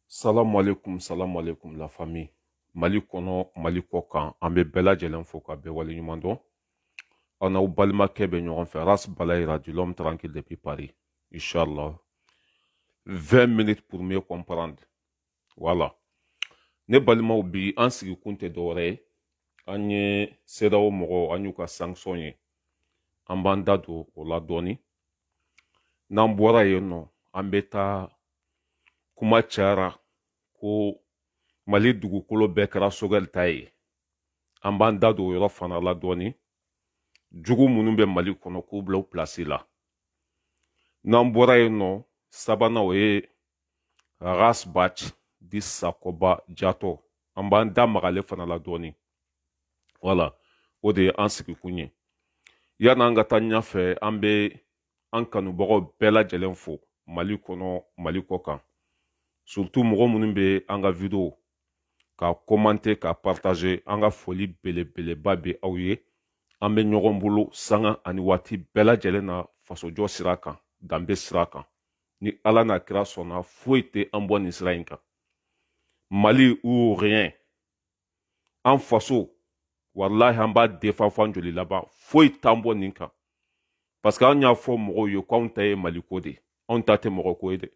Salam alaikum, salam alaikum la famille. Mali kɔnɔ Mali kɔ kan an bɛ bɛɛ lajɛlen fo ka bɛɛ wale ɲuman dɔn aw n'aw balimakɛ bɛ ɲɔgɔn fɛ ras balayira dit l'homme tranquille depuis paris inchallah 20 minutes pour mieux comprendre wala ne balimaw bi an sigikun tɛ dɔwɛrɛ ye an ye cedeao mɔgɔw an y'u ka sanction ye an b'an da don o la dɔɔni n'an bɔra yen nɔ an bɛ taa kuma cayara ko mali dugukolo bɛɛ kɛra sogɛli ta ye an b'an da don o yɔrɔ fana la dɔɔni jugu minnu bɛ mali kɔnɔ k'u bila u pilasi la n'an bɔra yen nɔ sabanan o ye ras bath dit sakoba jatɔ an b'an da mag'ale fana la dɔɔni wala o de ye an sigikun ye yan'an ka taa ɲɛfɛ an bɛ an kanubagaw bɛɛ lajɛlen fo mali kɔnɔ mali kɔ kan surtout mɔgɔ minnu bɛ an ka video ka komante ka partaze an ka foli belebeleba bɛ aw ye an bɛ ɲɔgɔn bolo sanga ani waati bɛɛ lajɛlen na fasojɔ sira kan danbe sira kan ni ala n'a kira sɔnna foyi tɛ an bɔ nin sira in kan mali ou rien an faso walahi an b'a défend fɔ an joli laban foyi t'an bɔ nin kan parce que an y'a fɔ mɔgɔw ye ko anw ta ye maliko de ye anw ta tɛ mɔgɔ ko ye dɛ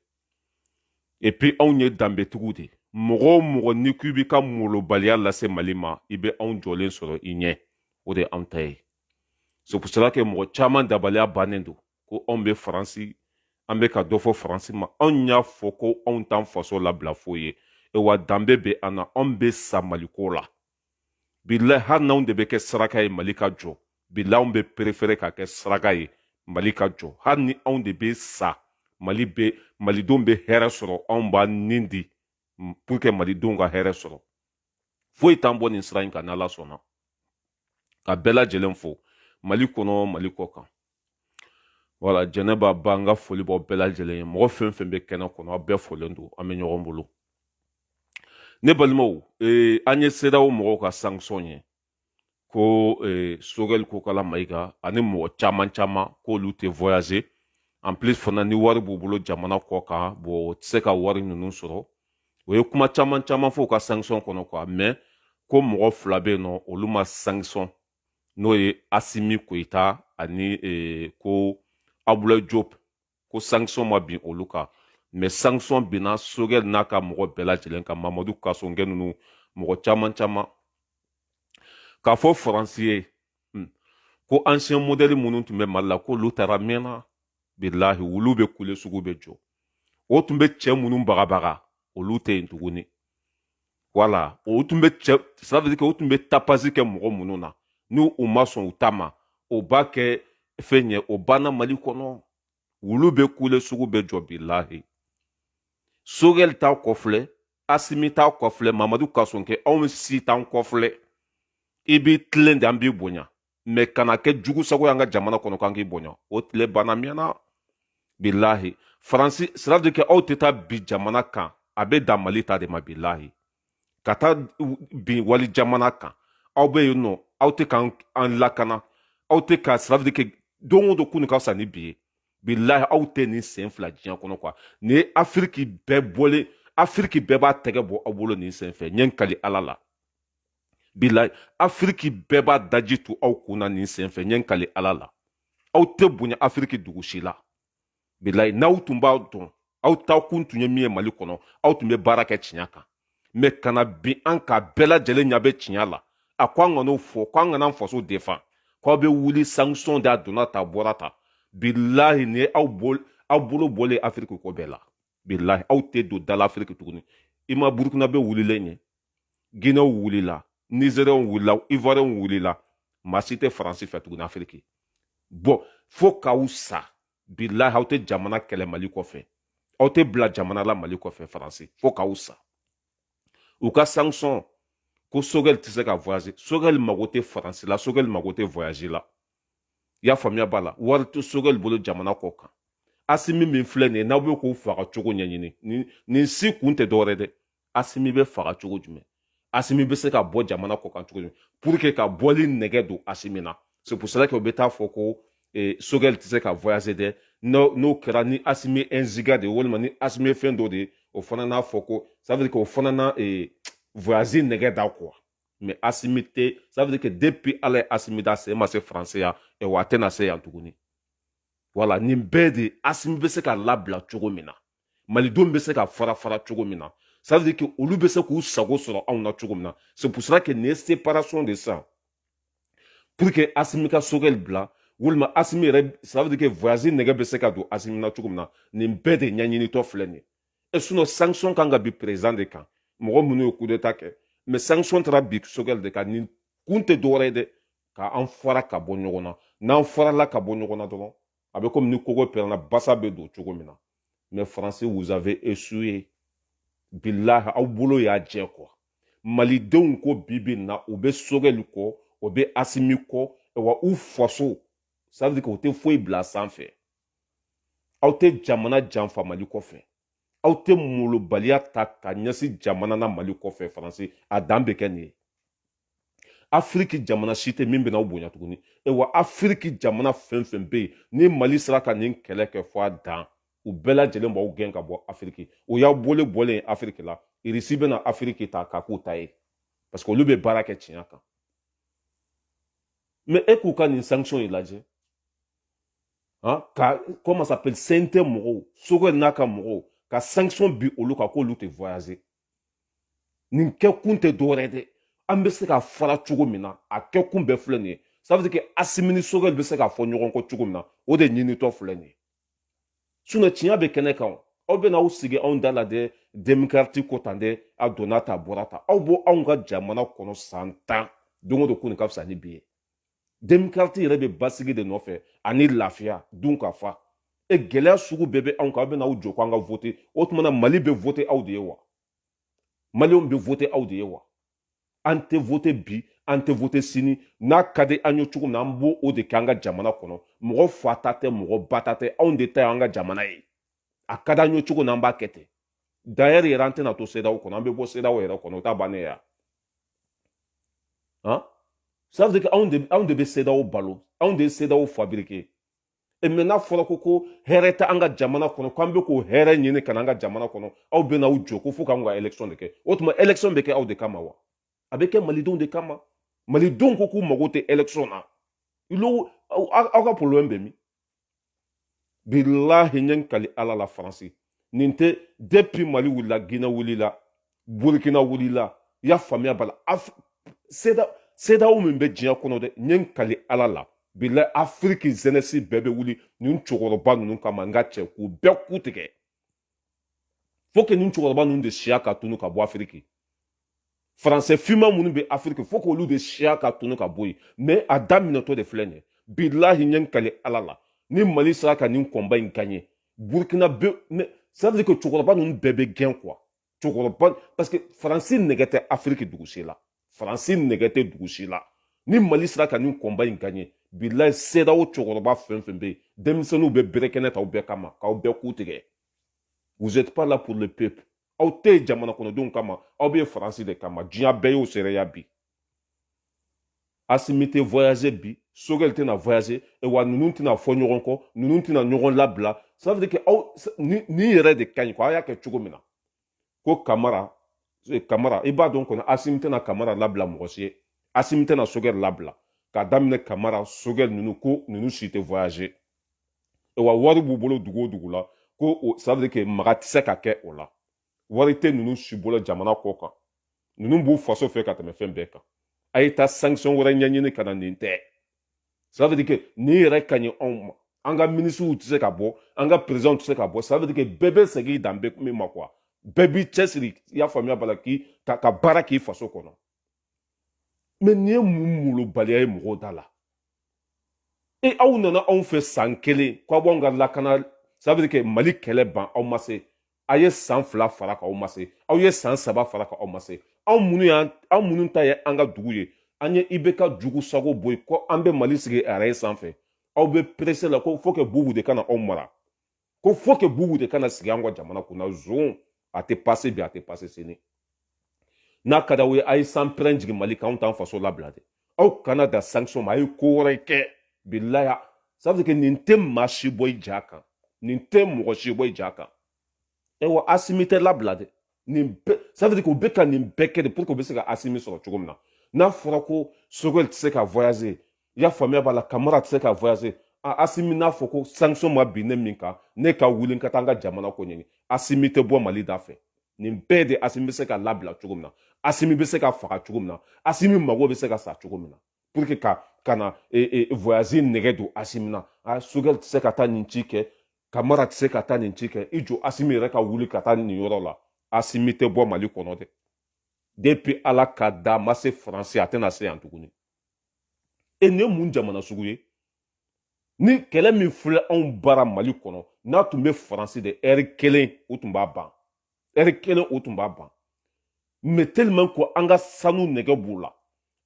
et puis anw ye danbetigiw de ye mɔgɔ o mɔgɔ n'i ko i b'i ka molobaliya lase mali ma i bɛ anw jɔlen sɔrɔ i ɲɛ o de ye anw ta ye c'est pour cela que mɔgɔ caman dabaliya bannen don ko anw bɛ faransi an bɛ ka dɔ fɔ faransi ma anw y'a fɔ ko anw t'an faso labila foyi ye wa danbe bɛ an na anw bɛ sa maliko la bilayi hali n'anw de bɛ kɛ saraka ye mali ka jɔ bilayi anw bɛ perefere ka kɛ saraka ye mali ka jɔ hali ni anw de bɛ sa malidenw bɛ hɛrɛ sɔrɔ anw b'an ni di pour que malidenw ka hɛrɛ sɔrɔ foyi t'an bɔ nin sira in kan n'ala sɔnna ka bɛɛ lajɛlen fo mali kɔnɔ mali kɔ kan wala jɛnɛba ba n ka foli b'aw bɛɛ lajɛlen ye mɔgɔ fɛn fɛn bɛ kɛnɛ kɔnɔ aw bɛɛ folen don an bɛ ɲɔgɔn bolo ne balimaw ee, an ye cedeao mɔgɔw ka sanction ye ko ee, sogɛli kokala mayiga ani mɔgɔ caman caman k'olu tɛ voyager en plus fana ni wari b'u bolo jamana kɔ kan bon o tɛ se ka wari ninnu sɔrɔ o ye kuma caman caman fɔ u ka sanction kɔnɔ quoi mais ko mɔgɔ fila bɛ yen nɔ olu ma sanction n'o ye asimi koyita ani eh, ko abdoulaye diop ko sanction ma bin olu kan mais sanction binna sogɛl n'a ka mɔgɔ bɛɛ lajɛlen kan mamadu kasogɛ ninnu mɔgɔ caman caman k'a fɔ faransi ye hmm. ko ancien modèle minnu tun bɛ mali la k'olu taara mɛnna bilahi wulu bɛ kule sugu bɛ jɔ o tun bɛ cɛ minnu bagabaga olu tɛ yen tuguni voilà o tun bɛ cɛ ça veut dire que o tun bɛ tapage kɛ mɔgɔ minnu na n'u ma sɔn u ta ma o b'a kɛ fɛn ye o banna mali kɔnɔ wulu bɛ kule sugu bɛ jɔ bilahi sogɛli t'a kɔfilɛ asimi t'a kɔfilɛ mamadu kasogɛ anw si t'an kɔfilɛ i b'i tilen de an b'i bonya mais ka na kɛ jugu sago y'an ka jamana kɔnɔ k'an k'i bonya o tile banna mɛnna bilahi faransi c'est-à-dire que aw tɛ taa bin jamana kan a bɛ dan mali ta de ma bilahi ka taa bin wali jamana kan aw bɛ yen nɔ aw tɛ k'an lakana aw tɛ ka c'est-à-dire que don o don kunu ka fisa ni bi ye bilahi aw tɛ nin sen fila diɲɛ kɔnɔ quoi nin ye afiriki bɛɛ bɔlen afiriki bɛɛ b'a tɛgɛ bɔ aw bolo nin sen fɛ ɲɛ kali ala la bilahi afiriki bɛɛ b'a daji tu aw kun na nin sen fɛ ɲɛ kali ala la aw tɛ bonya afiriki dugu si la bilahi n'aw tun b'a dɔn aw taa kun tun ye min ye mali kɔnɔ aw tun bɛ baara kɛ tiɲɛ kan mais ka na bin an kan bɛɛ lajɛlen ɲɛ bɛ tiɲɛ la a ko an kan'o fɔ ko an kana faso défendre ko aw bɛ wuli sanction de a donna tan bɔra tan bilahi nin ye aw bol aw bolo bɔlen afiriki ko bɛɛ la bilahi aw tɛ don da la afiriki tuguni i ma burukinabɛ wulilen ye ginɛw wulila nizeriyɛnw wulila ivoiriyɛnw wulila maa si tɛ faransi fɛ tuguni afiriki bon fo k'aw sa bilahi aw tɛ jamana kɛlɛ mali kɔfɛ aw tɛ bila jamana la mali kɔfɛ faransi fo k'aw sa u ka sanction ko sogɛli tɛ se ka voyager sogɛli mago tɛ faransi la sogɛli mago tɛ voyage la i y'a faamuya voilà wari tɛ sogɛli bolo jamana kɔ kan asimi min filɛ nin ye n'aw bɛ k'o faga cogo ɲɛɲini nin si kun tɛ dɔwɛrɛ dɛ asimi bɛ faga cogo jumɛn asimi bɛ se ka bɔ jamana kɔ kan cogo jumɛn pour que ka bɔli nege don asimi na c'est pour cela que u bɛ taa fɔ ko eh, sogɛli tɛ se ka voyager dɛ n'o kɛra ni asimi enziga de ye walima ni asimi fɛn dɔ de ye o fana n'a fɔ ko ça veut dire que o fana na eh, voyager nege da quoi mais asimi tɛ ça veut dire que depuis ala ye asimi da sen ma se faransi yan eh, wa a tɛna se yan tuguni voilà nin bɛɛ de asimi bɛ se ka labila cogo min na malidenw bɛ se ka fara fara cogo min na ça veut dire que olu bɛ se k'u sago sɔrɔ anw na cogo min na c'est pour cela que nin ye séparation de sisan pour que asimi ka sogɛli bila walima asimi yɛrɛ ça veut dire que voyage nɛgɛ bɛ se ka don asimi na cogo min na nin bɛɛ de ɲɛɲinitɔ filɛ nin ye e sinon sanction kan ka bin président de kan mɔgɔ minnu ye coup d'état kɛ mais sanction taara bin sogɛli de kan nin kun tɛ dɔwɛrɛ ye dɛ k'an fara ka bɔ ɲɔgɔn na n'an farala ka bɔ ɲɔgɔn na dɔrɔn a bɛ komi ni kogo pɛrɛnna basa bɛ don cogo min na mais faransi vous avez échoué bilahi aw bolo y'a jɛ quoi malidenw ko bi bi na u bɛ sogɛli kɔ u bɛ asimi kɔ wa u faso ça veut dire que u tɛ foyi bila sanfɛ aw tɛ jamana janfa mali kɔfɛ aw tɛ molobaliya ta ka ɲɛsin jamana na mali kɔfɛ faransi a dan bɛ kɛ nin ye afiriki jamana si tɛ min bɛna aw bonya tuguni e wa afiriki jamana fɛn fɛn bɛ yen ni mali sera ka nin kɛlɛ kɛ fɔ a dan u bɛɛ lajɛlen b'aw gɛn ka bɔ afiriki o y'aw bolo bɔlen ye afiriki la irisi bɛna afiriki ta k'a k'u ta ye parce que olu bɛ baara kɛ tiɲɛ kan mais e k'u ka nin sanction in lajɛ han ka comment s'appelle CNT mɔgɔw sogɛli n'a ka mɔgɔw ka sanction bin olu kan k'olu tɛ voyager nin kɛ kun tɛ dɔwɛrɛ dɛ an bɛ se ka fara cogo min na a kɛ kun bɛɛ filɛ nin ye ça veut dire que asimi ni sogɛli bɛ se ka fɔ ɲɔgɔn kɔ cogo min na o de ɲinitɔ filɛ nin ye sinon tiɲɛ bɛ kɛnɛ kan aw bɛna aw sigi anw da la dɛ demokarati ko tan dɛ a donna tan a bɔra tan aw bɛ anw ka jamana kɔnɔ san tan don o don kunun ka fisa ni bi ye demokarati yɛrɛ bɛ basigi de nɔfɛ ani lafiya dunkafa e gɛlɛya sugu bɛɛ bɛ anw kan aw bɛna aw jɔ ko an ka vote o tuma na mali bɛ vote aw de ye wa maliyɛnw bɛ vote aw de ye wa an tɛ vote bi an tɛ vote sini n'a ka di an ye cogo min na an b'o de kɛ an ka jamana kɔnɔ mɔgɔ fa ta tɛ mɔgɔ ba ta tɛ anw de ta ye an ka jamana ye a ka di an ye cogo min na an b'a kɛ ten d'ailleurs yɛrɛ an tɛna to CEDEAO kɔnɔ an bɛ bɔ CEDEAO yɛrɛ kɔnɔ o t'a bannen ye Hein? Ça veut dire qu'anw de, anw de bɛ CEDEAO balo anw de ye CEDEAO fabriquer e mais n'a fɔra ko ko hɛrɛ tɛ an ka jamana kɔnɔ k'an bɛ k'o hɛrɛ ɲini ka na an ka jamana kɔnɔ aw bɛ n'aw jɔ ko fo k'an ka élection de kɛ o tuma élection bɛ kɛ aw de kama wa a bɛ kɛ malidenw de kama malidenw ko k'u mago tɛ élection na aw ka problème bɛ min bilahi n ye n kali ala la faransi nin tɛ depuis mali wulila guinɛ wulila burkina wulila i y'a faamuya bala CEDEAO min bɛ diɲɛ kɔnɔ dɛ n ye n kali ala la bilahi afiriki jeunesse bɛɛ bɛ wuli nin cɛkɔrɔba ninnu kama n ka cɛ k'u bɛɛ ku tigɛ faut que nin cɛkɔrɔba ninnu de siya ka tunu ka bɔ afiriki français finman minnu bɛ afiriki faut que olu de siya ka tunu ka bɔ yen mais a daminɛtɔ de filɛ nin ye bilahi n ye n kali ala la ni mali sera ka nin combat in gagner burkina bɛ ça veut dire que cɛkɔrɔba ninnu bɛɛ bɛ gɛn quoi cɛkɔrɔba parce que faransi nɛgɛ tɛ afiriki dugu si la faransi nɛgɛ tɛ dugu si la ni mali sera ka nin combat in gagner bilahi cedeao cɛkɔrɔba fɛn fɛn bɛ yen denmisɛnninw bɛ bere kɛnɛ ta aw bɛɛ kama k'aw bɛɛ ku tigɛ vous êtes pas là pour le peuple aw tɛ jamana kɔnɔdenw kama aw bɛ faransi de kama diɲɛ bɛɛ y'o seereya bi asimi tɛ voyager bi sogɛli tɛna voyager wa ninnu tɛna fɔ ɲɔgɔn kɔ ninnu tɛna ɲɔgɔn labila ça veut dire que aw nin yɛrɛ de ka ɲi ko a y'a kɛ cogo min na ko kamara e, kamara i b'a dɔn kɔni asimi tɛna kamara labila mɔgɔ si ye asimi tɛna sogɛli labila ka daminɛ kamara sogɛli ninnu ko ninnu si tɛ voyager wa wari b'u bolo dugu o dugu la ko o ça veut dire que maga tɛ se ka kɛ o la wari tɛ ninnu si bolo jamana kɔ kan ninnu b'u faso fɛ ka tɛmɛ fɛn bɛɛ kan a ye taa sanction wɛrɛ ɲɛɲini ka na nin tɛ ça veut dire que nin yɛrɛ ka ɲi anw ma an ka minisiriw tɛ se ka bɔ an ka perezidanw tɛ se ka bɔ ça veut dire que bɛɛ bɛ segin dan bɛ min ma quoi bɛɛ b'i cɛsiri i y'a faamuya b'a la k'i ka ka baara k'i faso kɔnɔ mais nin ye mun molobaliya ye mɔgɔw da la e aw nana anw fɛ san kelen k'aw b'anw ka lakana ça veut dire que mali kɛlɛ ban aw ma se a ye san fila fara kan aw ma se aw ye san saba fara kan aw ma se anw minnu y'an anw minnu ta ye an ka dugu ye an ye ibk jugu sago bɔ yen ko an bɛ mali sigi araye sanfɛ aw bɛ pressé la ko faut que bubu de ka na anw mara ko faut que bubu de ka na sigi an ka jamana kunna zon a tɛ passer bi a tɛ passer sini n'a ka d'aw ye a ye sanpɛrɛn jigin mali kan anw t'an faso labila dɛ aw kana dan sanction ma a ye ko wɛrɛ kɛ bilaya ça veut dire que nin tɛ maa si bɔ i ja kan nin tɛ mɔgɔ si bɔ i ja kan ewa asimi tɛ labila dɛ nin bɛɛ ça veut dire k'u bɛ ka nin bɛɛ kɛ de pour que u bɛ se ka asimi sɔrɔ cogo min na n'a fɔra ko sogɛli tɛ se ka voyager i y'a faamuya b'a la kamara tɛ se ka voyager a asimi n'a fɔ ko sanction ma bin ne min kan ne ka wuli n ka taa n ka jamana ko ɲɛɲini asimi tɛ bɔ mali da fɛ nin bɛɛ de asimi bɛ se ka labila cogo min na asimi bɛ se ka faga cogo min na asimi mago bɛ se ka sa cogo min na pour que ka ka na e, e, voyager nɛgɛ don asimi na a sogɛli tɛ se ka taa nin ci kɛ kamara tɛ se ka taa nin ci kɛ i jɔ asimi yɛrɛ ka wuli ka taa nin yɔrɔ la asimi tɛ bɔ mali kɔnɔ dɛ depuis ala k'a da ma se faransi a tɛna se yan tuguni e nin ye mun jamana sugu ye nin kɛlɛ min filɛ anw bara mali kɔnɔ n'a tun bɛ faransi de ɛri kelen o tun b'a ban ɛri kelen o tun b'a ban mais tellement ko an ka sanu nɛgɛ b'u la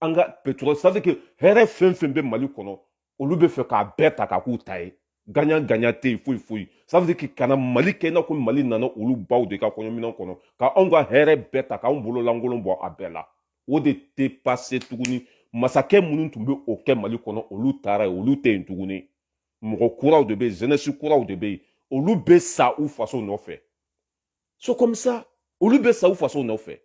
an ka pétrole ça veut dire que hɛrɛ fɛn fɛn bɛ mali kɔnɔ olu bɛ fɛ k'a bɛɛ ta k'a k'u ta ye gagnant gagnant tɛ yen foyi foyi ça veut dire que kana mali kɛ i n'a fɔ mali nana olu baw de ka kɔɲɔminɛn kɔnɔ ka anw ka hɛrɛ bɛɛ ta k'anw bolo lankolon bɔ a bɛɛ la o de tɛ pase tuguni masakɛ minnu tun bɛ o kɛ mali kɔnɔ olu taara yen olu tɛ yen tuguni mɔgɔ kuraw de bɛ yen jeunesse kuraw de bɛ yen olu bɛ sa u faso nɔfɛ c'est comme ça olu bɛ sa u faso nɔfɛ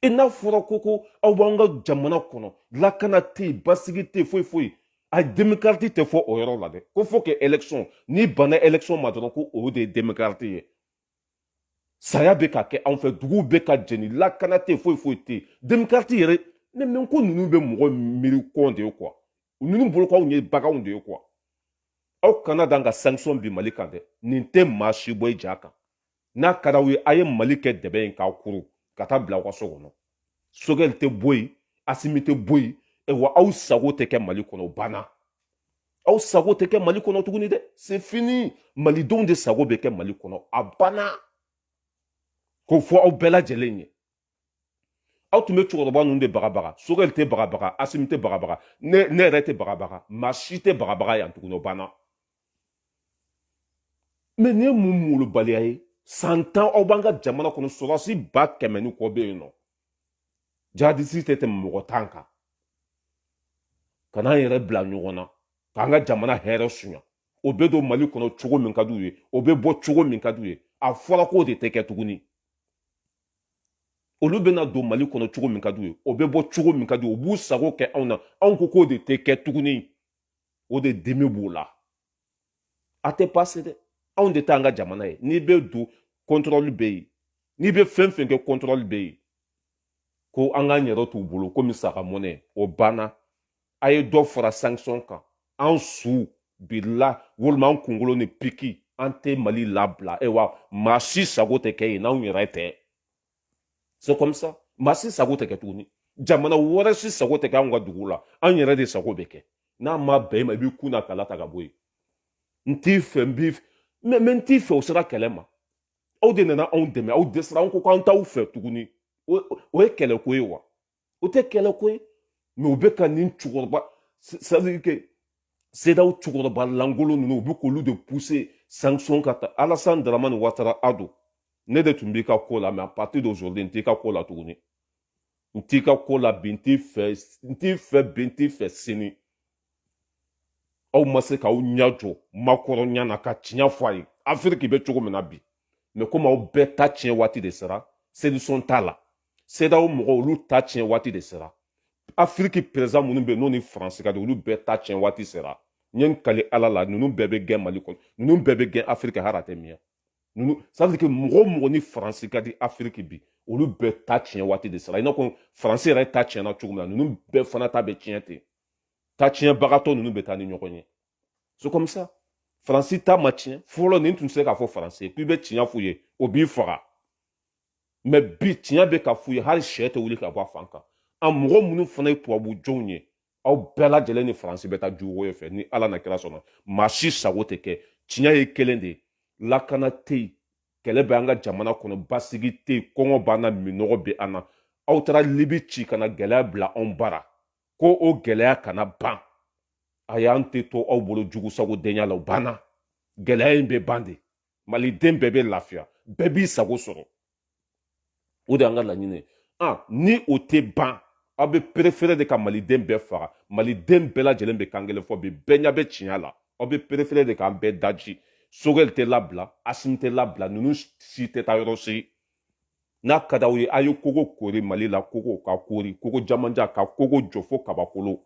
e n'a fɔra ko ko aw b'an ka jamana kɔnɔ lakana tɛ yen basigi tɛ yen foyi foyi a demokarati tɛ fɔ o yɔrɔ la dɛ ko fo que election n'i banna election ma dɔrɔn ko o de ye demokarati ye saya bɛ ka kɛ anw fɛ duguw bɛ ka jeni lakana tɛ yen foyi foyi tɛ yen demokarati yɛrɛ mais ko ninnu bɛ mɔgɔ miiri con de ye quoi ninnu bolo ko anw ye baganw de ye quoi aw kana dan ka sanction bin mali kan dɛ nin tɛ maa si bɔ i ja kan n'a ka d'aw ye a ye mali kɛ dɛbɛn ye k'a kuru ka taa bila aw ka so kɔnɔ sogɛli tɛ bɔ yen asimi tɛ bɔ yen wa aw sago tɛ kɛ mali kɔnɔ banna aw sago tɛ kɛ mali kɔnɔ tuguni dɛ c'est fini malidenw de sago bɛ kɛ mali kɔnɔ a banna k'o fɔ aw bɛɛ lajɛlen ye aw tun bɛ cɛkɔrɔba ninnu de bagabaga sogɛli tɛ bagabaga asimi tɛ bagabaga ne ne yɛrɛ tɛ bagabaga maa si tɛ bagabaga yan tuguni o banna mais nin ye mun molobaliya ye san tan aw b'an ka jamana kɔnɔ sɔrɔdasi ba kɛmɛ ni kɔ bɛ yen nɔ jihadiste tɛ tɛmɛ mɔgɔ tan kan ka n'an yɛrɛ bila ɲɔgɔn na k'an ka jamana hɛrɛ suɲa o bɛ don mali kɔnɔ cogo min ka d'u ye o bɛ bɔ cogo min ka d'u ye a fɔra k'o de tɛ kɛ tuguni olu bɛna don mali kɔnɔ cogo min ka d'u ye o bɛ bɔ cogo min ka d'u ye u b'u sago kɛ anw na anw ko k'o de tɛ kɛ tuguni o de dimi b'o la a tɛ pase dɛ anw de t'an ka jamana ye n'i bɛ don kɔntɔrɔli bɛ yen n'i bɛ fɛn fɛn kɛ kɔntɔrɔli bɛ yen ko an k'an yɛrɛ t'u bolo komi saga mɔnɛ o banna a ye dɔ fara sanction kan an su bila walima an kunkolo ni piki an tɛ mali labila e wa maa si sago tɛ kɛ yen n'anw yɛrɛ tɛ c'est comme ça maa si sago tɛ kɛ tuguni jamana wɛrɛ si sago tɛ kɛ anw ka dugu la an yɛrɛ de sago bɛ kɛ n'a ma bɛn i ma i b'i kun na kala ta ka bɔ yen n t'i fɛ n b'i fɛ mais mais n t'i fɛ o sera kɛlɛ ma aw de nana anw dɛmɛ aw dɛsɛra anw ko k'an t'aw fɛ tuguni o ye kɛlɛko ye wa o tɛ kɛlɛko ye mais u bɛ ka nin cɛkɔrɔba c'est-à-dire que cedeao cɛkɔrɔba lankolon ninnu u bɛ k'olu de puse sanction ka taa alasan daramani watara ado ne de tun b'i ka ko la mais à partir d'aujourd'hui n t'i ka ko la tuguni n t'i ka ko la bi n t'i fɛ n t'i fɛ bi n t'i fɛ sini aw ma se k'aw ɲɛ jɔ makɔrɔn ɲɛ na ka tiɲɛ fɔ a ye afiriki bɛ cogo min na bi mais komi aw bɛɛ ta tiɲɛ waati de sera solution t'a la sedawo mɔgɔw olu ta tiɲɛ waati de sera afiriki perezidan minnu bɛ yen n'o ni faransi ka di olu bɛɛ ta tiɲɛ waati sera n ye n kali ala la ninnu bɛɛ bɛ gɛn mali kɔnɔ ninnu bɛɛ bɛ gɛn afiriki hali a tɛ mɛɛn ninnu c'est-à-dire que mɔgɔ o mɔgɔ ni faransi ka di afiriki bi olu bɛɛ ta tiɲɛ waati de sera i n'a fɔ faransi yɛrɛ ta tiɲɛna cogo min na ninnu bɛɛ fana ta bɛ tiɲɛ ten ta tiɲɛbagatɔ ninnu bɛ taa ni ɲɔgɔn ye c'est comme ça faransi ta ma tiɲɛ fɔlɔ nin tun tɛ se k'a fɔ faransi ye k'i bɛ tiɲɛ f'u ye o b'i faga mɛ bi tiɲɛ bɛ ka f'u ye hali sɛ tɛ wuli ka bɔ a fan kan a mɔgɔ minnu fana ye tubabu jɔnw ye aw bɛɛ lajɛlen ni faransi bɛ taa juguko ye fɛ ni ala n'a kira sɔnna maa si sago tɛ kɛ tiɲɛ ye kelen de ye lakana tɛ yen kɛlɛ bɛ an ka jamana kɔnɔ basigi tɛ yen kɔngɔ b'an na minɔgɔ bɛ an na aw taara libi ci ka na gɛlɛya bila anw bara ko o gɛlɛya kana ban ayi an tɛ to aw bolo jugu sago denya la o banna gɛlɛya in bɛ ban de maliden bɛɛ bɛ lafiya bɛɛ b'i sago sɔrɔ o de y'an ka laɲini ye a ni o tɛ ban aw bɛ perefere de ka maliden bɛɛ faga maliden bɛɛ lajɛlen bɛ kan kelen fɔ bi bɛɛ ɲɛ bɛ tiɲɛ la aw bɛ perefere de k'an bɛɛ daji sogɛli tɛ labila asimi tɛ labila ninnu si tɛ taa yɔrɔ si n'a ka d'aw ye a ye kogo kori mali la kogo ka kori kogo jamanjan ka kogo jɔ fo kabakolo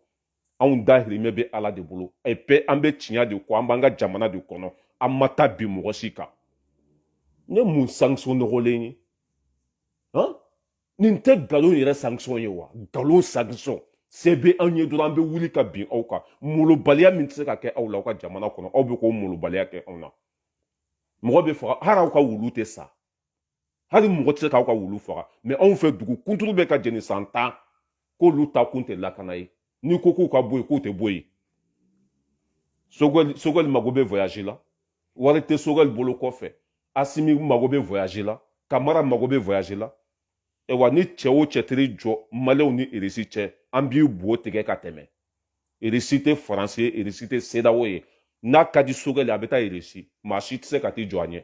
anw dahirimɛ bɛ ala de bolo epi an bɛ tiɲɛ de kɔ an b'an ka jamana de kɔnɔ an ma taa bin mɔgɔ si kan nin ye mun sanction nɔgɔlen ye han nin tɛ nkalon yɛrɛ sanction ye wa nkalon sanction se bɛ anw ye dɔrɔn an bɛ wuli ka bin aw kan molobaliya min tɛ se ka kɛ aw la aw ka jamana kɔnɔ aw bɛ k'o molobaliya kɛ anw na mɔgɔ bɛ faga hali aw ka wulu tɛ sa hali mɔgɔ tɛ se k'aw ka wulu faga mɛ anw fɛ dugu kunturu bɛ ka jeni san tan k'olu ta kun tɛ lakana ye n'i ko k'u ka bɔ yen k'u tɛ bɔ yen sogɛli sogɛli mago bɛ voyage la wari tɛ sogɛli bolo kɔfɛ asimi mago bɛ voyage la kamara mago bɛ voyage la wa ni cɛ o cɛ taar'i jɔ maliyɛnw ni irisi cɛ an b'i bo tigɛ ka tɛmɛ irisi tɛ faransi ye irisi tɛ sedawo ye n'a ka di sogɛli y'a bɛ taa irisi maa si tɛ se ka t'i jɔ a ɲɛ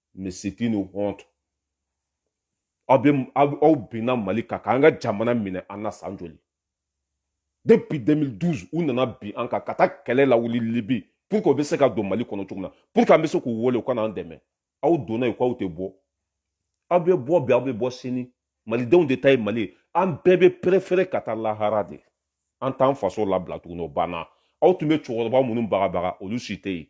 mais c'est une honte aw bɛ aw binna mali kan k'an ka jamana minɛ an na san joli depuis 2012 u nana bin an kan ka taa kɛlɛ lawuli libi pour que u bɛ se ka don mali kɔnɔ cogo min na pour que an bɛ se k'u wele u ka n'an dɛmɛ aw donna yen k'aw tɛ bɔ aw bɛ bɔ bi aw bɛ bɔ sini malidenw de ta ye mali ye an bɛɛ bɛ perefere ka taa lahara de an t'an faso labila tuguni o banna aw tun bɛ cɛkɔrɔba minnu bagabaga olu si tɛ yen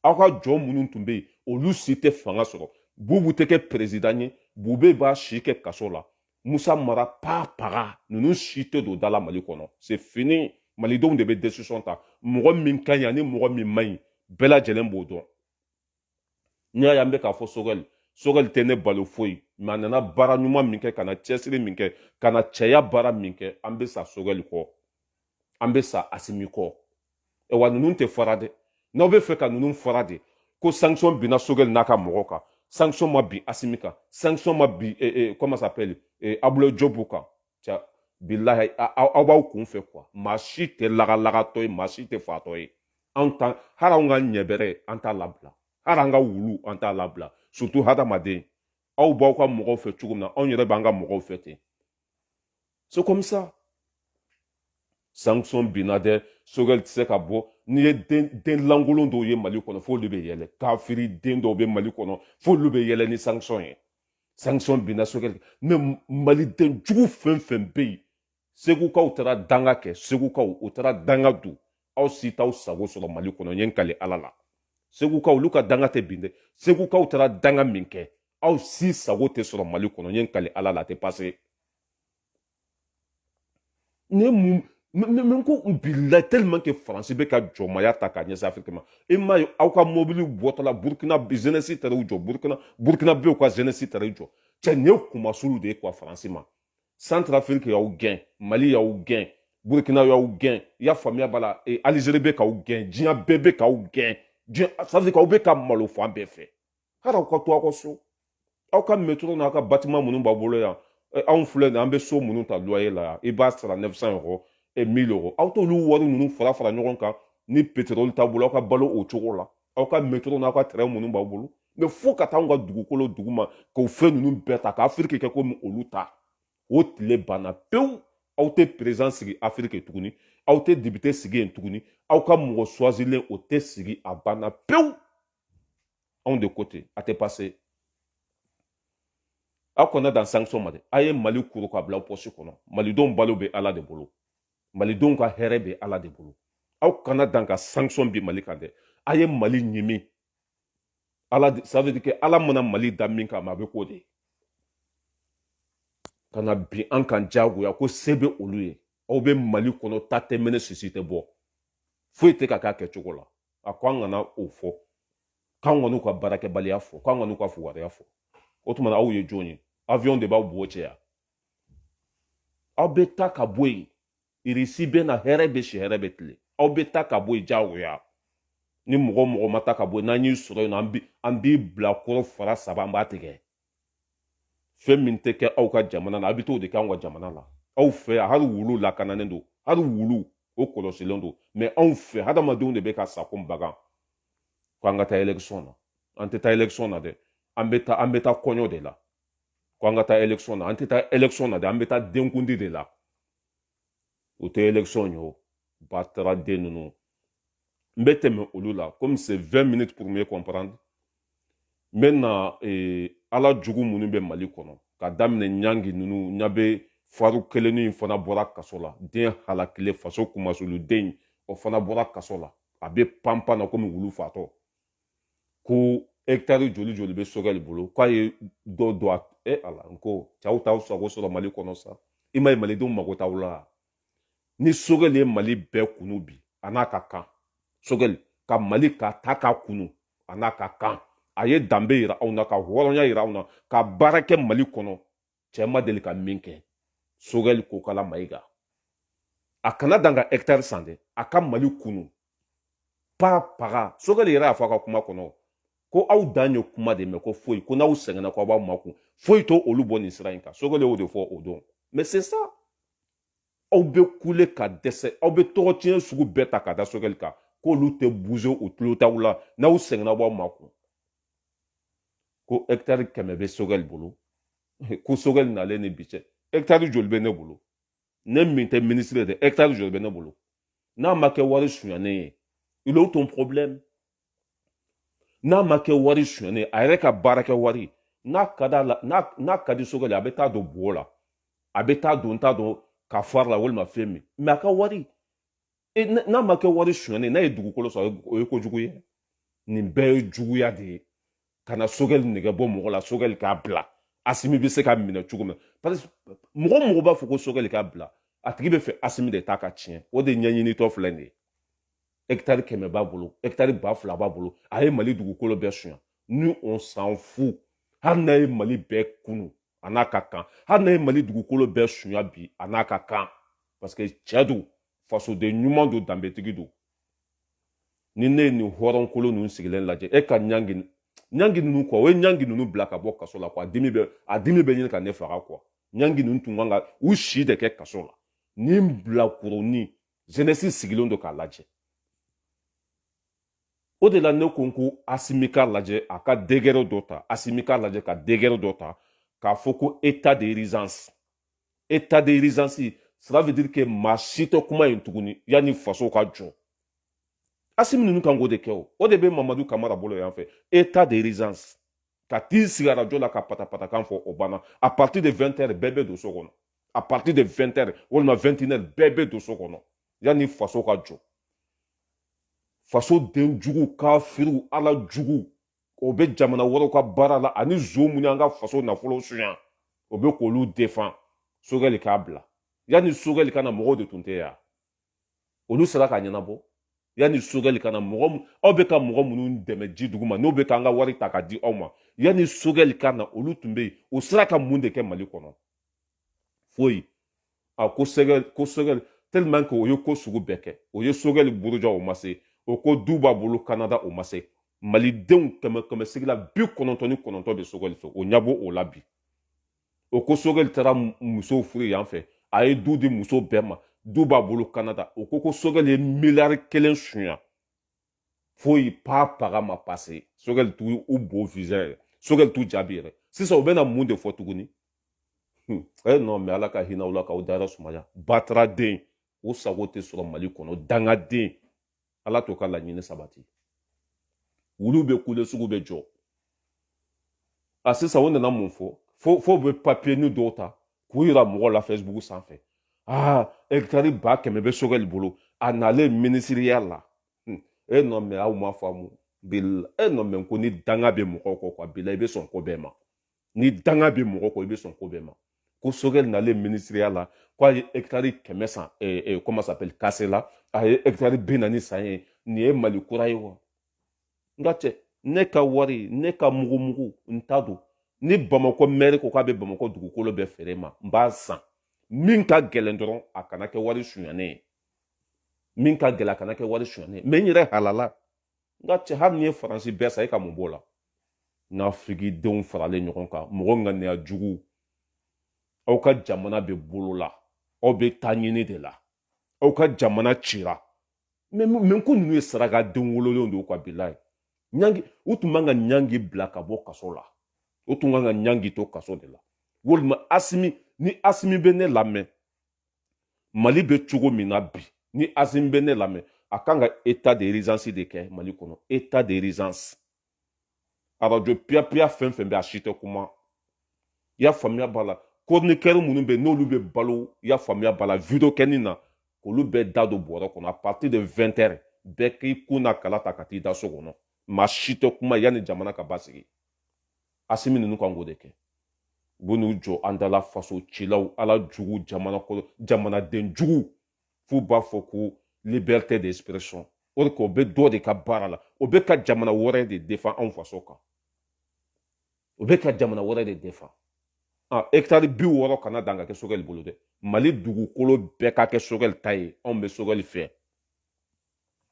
aw ka jɔn minnu tun bɛ yen olu si tɛ fanga sɔrɔ bubu tɛ kɛ perezidan ye bube b'a si kɛ kaso la musa mara pa paga ninnu si tɛ don da la mali kɔnɔ c'est fini malidenw de bɛ desisɔn ta mɔgɔ min ka ɲi ani mɔgɔ min man ɲi bɛɛ lajɛlen b'o dɔn n'i y'a ye an bɛ k'a fɔ sogɛli sogɛli tɛ ne balo foyi mais a nana baara ɲuman min kɛ ka na cɛsiri min kɛ ka na cɛya baara min kɛ an bɛ sa sogɛli kɔ an bɛ sa asimi kɔ wa ninnu tɛ fara dɛ n'aw bɛ fɛ ka ninnu fara de ko sanction binna sogɛli n'a ka mɔgɔw kan sanction ma bin asimi kan sanction ma bin comment ça s'appelle abdoulaye diop kan cɛ bilahi aw b'aw kun fɛ quoi maa si tɛ lagalagatɔ ye maa si tɛ fatɔ ye anw ta hali anw ka ɲɛbɛrɛ an t'a labila hali an ka wulu an t'a labila surtout hadamaden aw b'aw ka mɔgɔw fɛ cogo min na anw yɛrɛ b'an ka mɔgɔw fɛ ten c'est comme ça sanction binna dɛ sogɛli tɛ se ka bɔ n'i ye den den lankolon dɔw ye mali kɔnɔ f'olu bɛ yɛlɛ kafiri den dɔw bɛ mali kɔnɔ f'olu bɛ yɛlɛ ni sanction ye sanction binna sogɛli mais maliden jugu fɛn fɛn bɛ yen segukaw taara danga kɛ segukaw u taara danga don aw si t'aw sago sɔrɔ mali kɔnɔ n ye n kale ala la segukaw olu ka danga tɛ bin dɛ segukaw taara danga min kɛ aw si sago tɛ sɔrɔ mali kɔnɔ n ye n kale ala la a tɛ passer ne mun n ko bilahi tellement que faransi bɛ ka jɔnmaya ta k'a ɲɛsin afiriki ma e m'a ye aw ka mɔbiliw bɔtɔla burukina jeunesse taara u jɔ burukina burukinabɛw ka jeunesse taara u jɔ cɛ nin ye kunmasuli de ye quoi faransi ma santrafiriki y'aw gɛn mali y'aw gɛn burukina y'aw gɛn i y'a faamuya b'a la alizeri bɛ k'aw gɛn diɲɛ bɛɛ bɛ k'aw gɛn diɲɛ ça veut dire k'aw bɛ ka malo fan bɛɛ fɛ hali aw ka to aw ka so aw ka métro n'aw ka bâtiment minnu b'a bolo yan eh, anw filɛ nin an bɛ so minnu ta loyer la yan i b'a sara 900 euros e 1000 euros aw t'olu wari ninnu fara fara ɲɔgɔn kan ni pétrole t'a bolo aw ka balo o cogo la aw ka métro n'aw ka train minnu b'aw bolo mais fo ka taa anw ka dugukolo duguma k'o fɛn ninnu bɛɛ ta ka afiriki kɛ komi olu ta o tile banna pewu aw tɛ président sigi afiriki tuguni aw tɛ député sigi yen tuguni aw ka mɔgɔ choisilen o tɛ sigi a banna pewu anw de ko ten a tɛ passer aw kana dan sanction ma dɛ a ye mali kuru k'a bila pɔsi kɔnɔ malidenw balo bɛ ala de bolo malidenw ka hɛrɛ bɛ ala de bolo aw kana dan ka sanction bin mali kan dɛ a ye mali ɲimi ala ça veut dire que ala mana mali da min kama a bɛ k'o de ye ka na bin an kan diyagoya ko se bɛ olu ye aw bɛ mali kɔnɔ ta tɛ mɛnɛ sisi tɛ bɔ foyi tɛ ka k'a kɛcogo la a ko an kana o fɔ k'an kan'u ka baarakɛbaliya fɔ k'an kan'u ka fugariya fɔ o tuma na aw ye jɔn ye avion de b'aw bo cɛ yan aw bɛ taa ka bɔ yen irisi bɛ na hɛrɛ bɛ si hɛrɛ bɛ tile aw bɛ taa ka bɔ yen diyagoya ni mɔgɔ mɔgɔ ma taa ka bɔ yen n'an y'i sɔrɔ yen nɔ an b'i bilakoro fara sama an b'a tigɛ fɛn min tɛ kɛ aw ka jamana na a bɛ t'o de kɛ anw ka jamana la aw fɛ yan hali wulu lakananen don hali wulu o kɔlɔsilen don mais anw fɛ hadamadenw de bɛ ka sa ko bagan ko an ka taa élection na an tɛ taa élection na dɛ an bɛ taa an bɛ taa kɔɲɔ de la ko an ka taa élection na an tɛ taa élection na dɛ an bɛ taa denkundi de la o tɛ élection ye o bataraden ninnu n bɛ tɛmɛ olu la komi c'est 20 minutes pour mieux comprendre n bɛ na eh, ala jugu minnu bɛ mali kɔnɔ ka daminɛ ɲangi ninnu ɲa bɛ faru kelennin in fana bɔra kaso la den halakilen faso kunmasuuliden o fana bɔra kaso la a bɛ panpan na komi wulu fatɔ ko hɛkitari joli joli bɛ sogɛli bolo k'a ye dɔ don a e ala n ko cɛ aw t'aw sago sɔrɔ mali kɔnɔ sa i ma ye malidenw mago t'aw la ni sogɛli ye mali bɛɛ kunu bi a n'a ka kan sogɛli ka mali ka ta k'a kunu a n'a ka kan a ye danbe yira anw na ka hɔrɔnya yira anw na ka baara kɛ mali kɔnɔ cɛ ma deli ka min kɛ sogɛli kokala mayiga a kana dan ka hɛkitari san dɛ a ka mali kunu pa paga sogɛli yɛrɛ y'a fɔ a ka kuma kɔnɔ ko aw dan ye kuma de mɛn ko foyi ko n'aw sɛgɛnna ko aw b'aw makun foyi t'olu bɔ nin sira in kan sogɛli y'o de fɔ o don mais c'est ça aw bɛ kule ka dɛsɛ aw bɛ tɔgɔ tiɲɛ sugu bɛɛ ta ka da sogɛli kan k'olu tɛ bouger u tulo t'aw la n'aw sɛgɛnna aw b'aw makun ko hɛkitari kɛmɛ bɛ sogɛli bolo ko sogɛli nalen ni bi cɛ hɛkitari joli bɛ ne bolo ne min tɛ minisiri ye hɛkitari joli bɛ ne bolo n'a ma kɛ wari sonyanen ye il est où ton problème n'a ma kɛ wari sonyanen ye a yɛrɛ ka baarakɛ wari n'a ka d'a la n'a ka di sogɛli a bɛ taa don bo la a bɛ taa don t'a dɔn ka fari la walima fɛn min mais a ka wari e n'a ma kɛ wari sonyanen n'a ye dugukolo sɔrɔ o ye kojugu ye nin bɛɛ ye juguya de ye ka na sogɛli nɛgɛ bɔ mɔgɔ la sogɛli k'a bila asimi bɛ se ka minɛ cogo min parce que mɔgɔ mɔgɔ b'a fɔ ko sogɛli k'a bila a tigi b'a fɛ asimi de ta ka tiɲɛ o de ɲɛɲinitɔ filɛ nin ye hɛkitari kɛmɛ b'a bolo hɛkitari ba fila b'a bolo a ye mali dugukolo bɛɛ sonya ni on s'en fout hali n'a ye mali bɛɛ kunu a n'a ka kan hali n'a ye mali dugukolo bɛɛ sonya bi a n'a ka kan parce que cɛ don fasoden ɲuman don danbetigi don ni ne ye nin hɔrɔnkolo ninnu sigilen lajɛ e ka ɲangi ɲangi ninnu kɔ u ye ɲangi ninnu bila ka bɔ kaso la quoi a dimi bɛ a dimi bɛ ɲini ka ne faga quoi ɲangi ninnu tun kan ka u si de kɛ kaso la ni bilakoronin jeunesse sigilen don k'a lajɛ o de la ne ko n ko asimi k'a lajɛ a ka décret dɔ ta asimi k'a lajɛ ka décret dɔ ta k'a fɔ ko état d'urgence état d'urgence cela veut dire que maa si tɛ kuma yen tuguni yanni faso ka jɔ asimi ninnu kan k'o de kɛ o de bɛ mamadu kamara bolo yan fɛ état d'urgence ka t'i sigi arajo la ka patapatakan fɔ o banna à partir de 20 heures bɛɛ bɛ don so kɔnɔ à partir de 20 heures walima 21 heures bɛɛ bɛ don so kɔnɔ yanni faso ka jɔ faso den jugu kafiriw ala jugu o bɛ jamana wɛrɛw ka baara la ani zon minnu y'an ka faso nafolo suɲa o bɛ k'olu défend sogɛli k'a bila yanni sogɛli ka na mɔgɔw de tun tɛ yan olu sera k'a ɲɛnabɔ yanni sogɛli ka na mɔgɔ aw bɛ ka mɔgɔ minnu dɛmɛ ji duguma n'o bɛ k'an ka wari ta ka di aw ma yanni sogɛli ka na olu tun bɛ yen o sera ka mun de kɛ mali kɔnɔ foyi a ko sogɛli ko sogɛli tellement que o ye ko sugu bɛɛ kɛ o ye sogɛli buruja o ma se o ko du b'a bolo kanada o ma se malidenw kɛmɛ sigi la bi kɔnɔntɔn ni kɔnɔntɔn bɛ sogɛli fɛ o ɲa b'o la bi o ko sogɛli taara musow furu yan fɛ a ye du di muso bɛɛ ma du b'a bolo kanada o ko ko sogɛli ye miliyari kelen sunya foyi propagande ma pase sogɛli t'u bo visa yɛrɛ sogɛli t'u jaabi yɛrɛ sisan u bɛna mun de fɔ tuguni hmm. e eh, non mais ala ka hinɛ aw la k'aw dayɔrɔ sumaya batara den o sago tɛ sɔrɔ mali kɔnɔ dangaden ala t'o ka laɲini sabati wulu bɛ kule sugu bɛ jɔ a sisan o nana mun fɔ fo o bɛ papiyenin dɔw ta k'u yira mɔgɔw la facebook sanfɛ aa ɛkitari ba kɛmɛ bɛ sogɛli bolo a nalen minisiriya la hmm. e non mais aw ma faamu e non mais ko ni danga bɛ mɔgɔw kɔ quoi bila i bɛ sɔn ko bɛɛ ma ni danga bɛ mɔgɔ kɔ i bɛ sɔn ko bɛɛ ma ko sogɛli nalen minisiriya la ko a ye ɛkitari kɛmɛ san comment ça s'appelle kasela a ye ɛkitari bi naani san yen nin ye mali kura ye wa n ka cɛ ne ka wari ne ka mugumugu n ta don ni bamakɔ mɛri ko k'a bɛ bamakɔ dugukolo bɛɛ feere n ma n b'a san min ka gɛlɛn dɔrɔn a kana kɛ wari sunyanen ye min ka gɛlɛn a kana kɛ wari sunyanen ye mais n yɛrɛ halala n ka cɛ hali n'i ye faransi bɛɛ san e ka mun b'o la nka afirikidenw faralen ɲɔgɔn kan mɔgɔ ŋaniya jugu aw ka jamana bɛ bolo la aw bɛ taa ɲini de la aw ka jamana cira mais mais ko ninnu ye saraka den wololenw de ye k'abilayi ɲangi u tun man ka ɲangi bila ka bɔ kaso la u tun kan ka ɲangi to kaso de la walima asimi ni asimi bɛ ne lamɛn mali bɛ cogo min na bi ni asimi bɛ ne lamɛn a kan ka état d'urgence de kɛ mali kɔnɔ état d'urgence arajo piyapiya fɛn fɛn bɛ a si tɛ kuma i y'a faamuya b'a la chroniqueur minnu bɛ n'olu bɛ balo i y'a faamuya b'a la video kɛnina k'olu bɛɛ da don bɔrɛ kɔnɔ à partir de 20 heures bɛɛ k'i kun na kala ta ka t'i da so kɔnɔ maa si tɛ kuma yanni jamana ka basigi asimi ninnu kan k'o de kɛ u bɛ n'u jɔ an da la faso cilaw ala jugu jamana kɔnɔ jamanaden jugu f'u b'a fɔ ko liberté d'expression o de k'o bɛ dɔ de ka baara la o bɛ ka jamana wɛrɛ de défend anw faso kan o bɛ ka jamana wɛrɛ de défend a hectare bi wɔɔrɔ kana dan ka kɛ sogɛli bolo dɛ mali dugukolo bɛɛ ka kɛ sogɛli ta ye anw bɛ sogɛli fɛ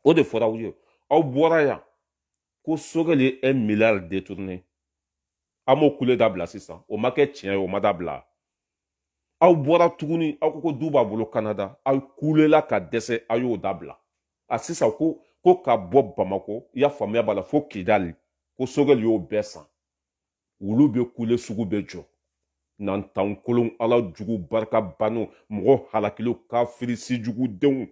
o de fɔra aw ye aw bɔra yan ko sogɛli ye un milliard détourné aw m'o kule dabila sisan o ma kɛ tiɲɛ ye o ma dabila aw bɔra tuguni aw ko du b'a bolo kanada aw kulela ka dɛsɛ aw y'o dabila a sisan ko ka bɔ bamako i y'a faamuya b'a la fo kidali ko sogɛli y'o bɛɛ san wulu bɛ kule sugu bɛ jɔ nantan kolon ala jugu barika bannenw mɔgɔ halakilenw kafiri si jugu denw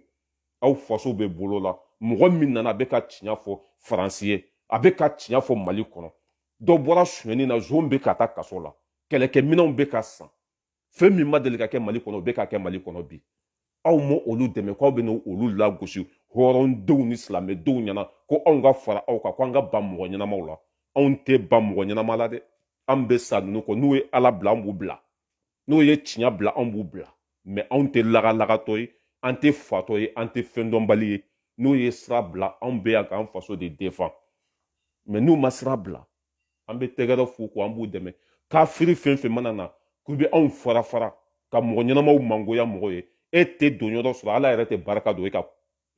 aw faso bɛ bolo la mɔgɔ min nana a bɛ ka tiɲɛ fɔ faransi ye a bɛ ka tiɲɛ fɔ mali kɔnɔ dɔ bɔra sonyɛni na zon bɛ ka taa kaso la kɛlɛkɛminɛnw bɛ ka san fɛn min ma deli ka kɛ mali kɔnɔ o bɛ ka kɛ mali kɔnɔ bi aw ma olu dɛmɛ k'aw bɛ n'olu lagosi hɔrɔndenw ni silamɛdenw ɲɛna ko anw ka fara aw kan ko an ka ban mɔgɔ ɲɛnamaw la anw tɛ ban mɔgɔ ɲɛnama la dɛ an bɛ sa ninnu kɔ n'u ye ala bila an b'u bila n'u ye tiɲɛ bila an b'u bila mais anw tɛ lagalagatɔ ye an tɛ fatɔ ye an tɛ fɛn dɔnbali ye n'u ye sira bila anw bɛ yan k'an faso de défend mais n'u ma sira bila an bɛ tɛgɛrɛ f'u kɔ an b'u dɛmɛ kafiri fɛn fɛn mana na k'u bɛ anw fara fara ka mɔgɔ ɲɛnamaw mangoya mɔgɔ ye e tɛ don yɔrɔ sɔrɔ ala yɛrɛ tɛ barika don e ka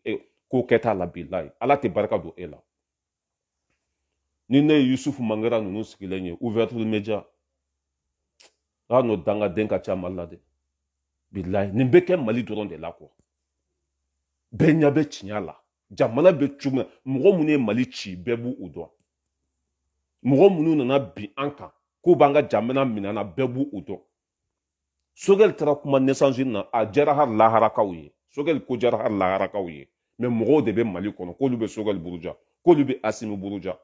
e, ko kɛta la bilayi ala tɛ barika don e la ni ne ye yusufu mangara ninnu sigilen ye ouverture media a n'o dangaden ka ca mali la dɛ bilayi nin bɛ kɛ mali dɔrɔn de la quoi bɛɛ ɲɛ bɛ tiɲɛ la jamana bɛ cogo min mɔgɔ minnu ye mali ci bɛɛ b'u dɔn mɔgɔ minnu nana bin an kan k'u b'an ka jamana minɛ an na bɛɛ b'u dɔn sogɛli taara kuma nations unies a diyara hali laharakaw ye sogɛli ko diyara hali laharakaw ye mais mɔgɔw de bɛ mali kɔnɔ k'olu bɛ sogɛli buruja k'olu bɛ asimi buruja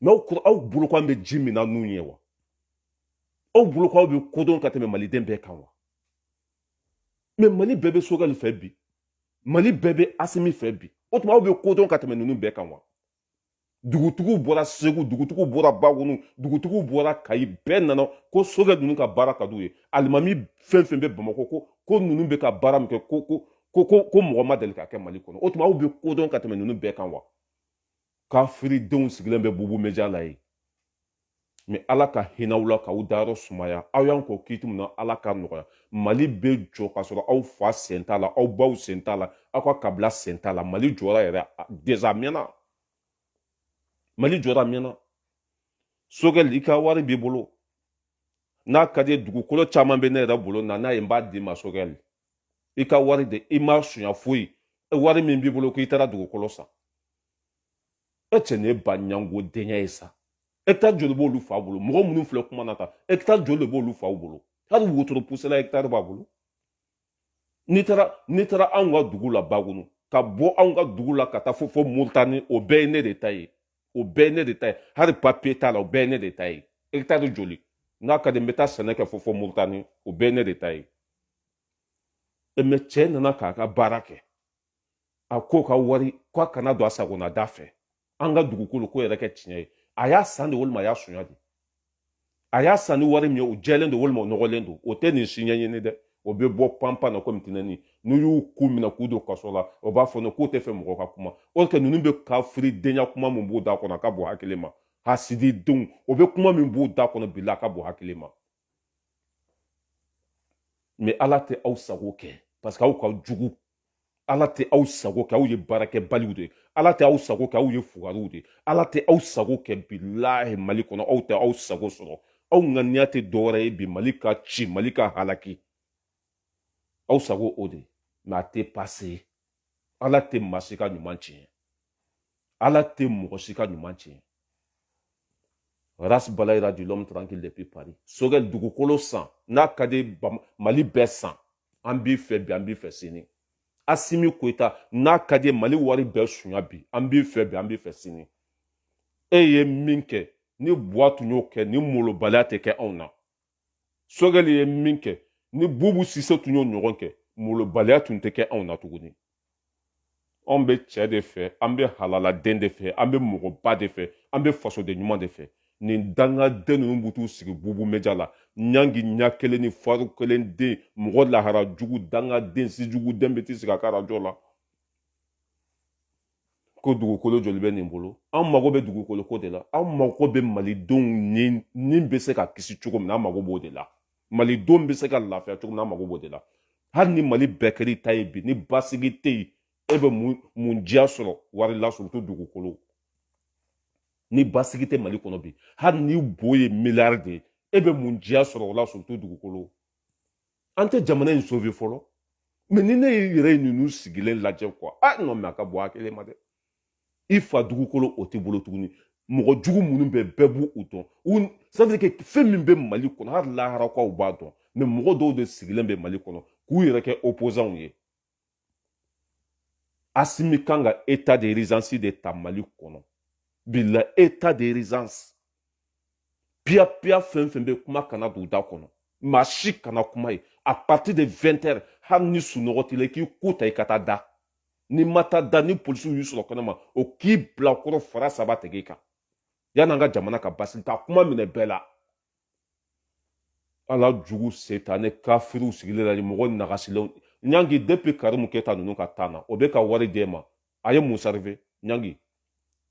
mais aw bolo k'an bɛ ji min n'an nu ye wa aw bolo k'aw bɛ ko dɔn ka tɛmɛ maliden bɛɛ kan wa mais mali bɛɛ bɛ sogɛli fɛ bi mali bɛɛ bɛ asimi fɛ bi o tuma aw bɛ kodɔn ka tɛmɛ ninnu bɛɛ kan wa dugutigiw bɔra segu dugutigiw bɔra bagunu dugutigiw bɔra kayi bɛɛ nana ko sogɛli ninnu ka baara ka d'u ye alimami fɛn fɛn bɛ bamakɔ ko ko ninnu bɛ ka baara min kɛ ko ko ko ko ko mɔgɔ ma deli ka kɛ mali kɔnɔ o tuma aw bɛ kodɔn ka tɛmɛ ninnu bɛɛ kan wa kafiridenw sigilen bɛ bubu meja la ye mɛ ala ka hinɛ aw la k'aw dayɔrɔ sumaya aw y'an kɔn kiti min na ala ka nɔgɔya mali bɛ jɔ k'a sɔrɔ aw fa sen t'a la aw baw sen t'a la aw ka kabila sen t'a la mali jɔra yɛrɛ deza mɛnna mali jɔra mɛnna sogɛli i ka wari b'i bolo n'a ka di dugukolo caman bɛ ne yɛrɛ bolo na n'a ye n b'a d'i ma sogɛli i ka wari de i ma sunya foyi wari min b'i bolo k'i taara dugukolo san e cɛ nin ye ba ɲango denkɛ ye sa hectare joli b'olu fa bolo mɔgɔ minnu filɛ kuma na tan hectare joli de b'olu faw bolo hali wotoro pusela hectare b'a bolo n'i taara n'i taara anw ka dugu la bagunu ka bɔ anw ka dugu la ka taa fo fo moritani o bɛɛ ye ne de ta ye o bɛɛ ye ne de ta ye hali papiye t'a la o bɛɛ ye ne de ta ye hectare joli n'a ka di n bɛ taa sɛnɛ kɛ fo fo moritani o bɛɛ ye ne de ta ye mɛ cɛ nana k'a ka baara kɛ a k'o ka wari k'a kana don a sagona da fɛ an ka dugukolo ko yɛrɛ kɛ tiɲɛ ye a y'a san de walima a y'a sonya de a y'a san ni wari min ye o jɛlen don walima o nɔgɔlen don o tɛ nin si ɲɛɲini dɛ o bɛ bɔ panpan na komi tinɛni n'u y'u ku minɛ k'u don kaso la o b'a fɔ ne k'u t'a fɛ mɔgɔ ka kuma o tɛ ninnu bɛ kafiridenya kuma min b'u da kɔnɔ a ka bɔ hakili ma hasididenw o bɛ kuma min b'u da kɔnɔ bila a ka bɔ hakili ma mɛ ala tɛ aw sago kɛ parce que aw ka jugu ala tɛ aw sago kɛ aw ye baarakɛbaliw de ala tɛ aw sago kɛ aw ye fugariw de ala tɛ aw sago kɛ bilahi mali kɔnɔ aw tɛ aw sago sɔrɔ aw ŋaniya tɛ dɔwɛrɛ ye bi mali ka ci mali ka halaki aw sago o de mɛ a tɛ pase ala tɛ maa si ka ɲuman tiɲɛ ala tɛ mɔgɔ si ka ɲuman tiɲɛ ras balayira dit l'homme tranquille depuis paris sogɛli dugukolo san n'a ka di mali bɛɛ san an b'i fɛ bi an b'i fɛ sini asimi koyita n'a ka di mali wari bɛɛ sunya bi an b'i fɛ bi an b'i fɛ sini e ye min kɛ ni buwa tun y'o kɛ ni molobaliya tɛ kɛ anw na sogɛli ye min kɛ ni bubu sise tun y'o ɲɔgɔn kɛ molobaliya tun tɛ kɛ anw na tuguni anw bɛ cɛ de fɛ an bɛ halaladen de fɛ an bɛ mɔgɔba de fɛ an bɛ fasoden ɲuman de fɛ nin dangaden ninnu bɛ t'u sigi bubu meja la ɲangi ɲa kelen ni faru kelen den mɔgɔ lahara jugu dangaden si jugu den bɛ t'i sigi a ka arajo la ko dugukolo joli bɛ nin bolo an mago bɛ dugukolo ko de la an mago bɛ malidenw ni bɛ se ka kisi cogo min na an mago b'o de la malidenw bɛ se ka lafiya cogo min na an mago b'o de la hali ni mali bɛɛ kɛr'i ta ye bi ni basigi tɛ yen e bɛ mun mun diya sɔrɔ wari la surtout dugukolo ni basigi tɛ mali kɔnɔ bi hali ni bo ye miliyari de ye e bɛ mun diya sɔrɔ o la surtout dugukolo an tɛ jamana in sauver fɔlɔ mɛ ni ne yɛrɛ ye ninnu sigilen lajɛ quoi a non mais a ka bɔ hakili ma dɛ i fa dugukolo o t'i bolo tuguni mɔgɔ jugu minnu bɛ bɛɛ b'u dɔn ça veut dire que fɛn min bɛ mali kɔnɔ hali laharakaw b'a dɔn mɛ mɔgɔ dɔw de sigilen bɛ mali kɔnɔ k'u yɛrɛ kɛ opozanw ye asimi kan ka état d'urgence de ta mali kɔnɔ bila état d'urgence piyapiya fɛn fɛn bɛ kuma kana don da kɔnɔ maa si kana kuma ye à partir de 20 heures hali ni sunɔgɔ t'i la i k'i ko ta i ka taa da n'i ma taa da ni polisiw y'i sɔrɔ kɛnɛma o k'i bila kɔrɔ fara saba tɛgɛ i kan yan'an ka jamana ka basigi ka kuma minɛ bɛɛ la ala jugu setanɛ kafiriw sigilen la mɔgɔ nagasilenw ɲangi depuis karimu keta ninnu ka tan na o bɛ ka wari d'e ma a ye mun servi ɲangi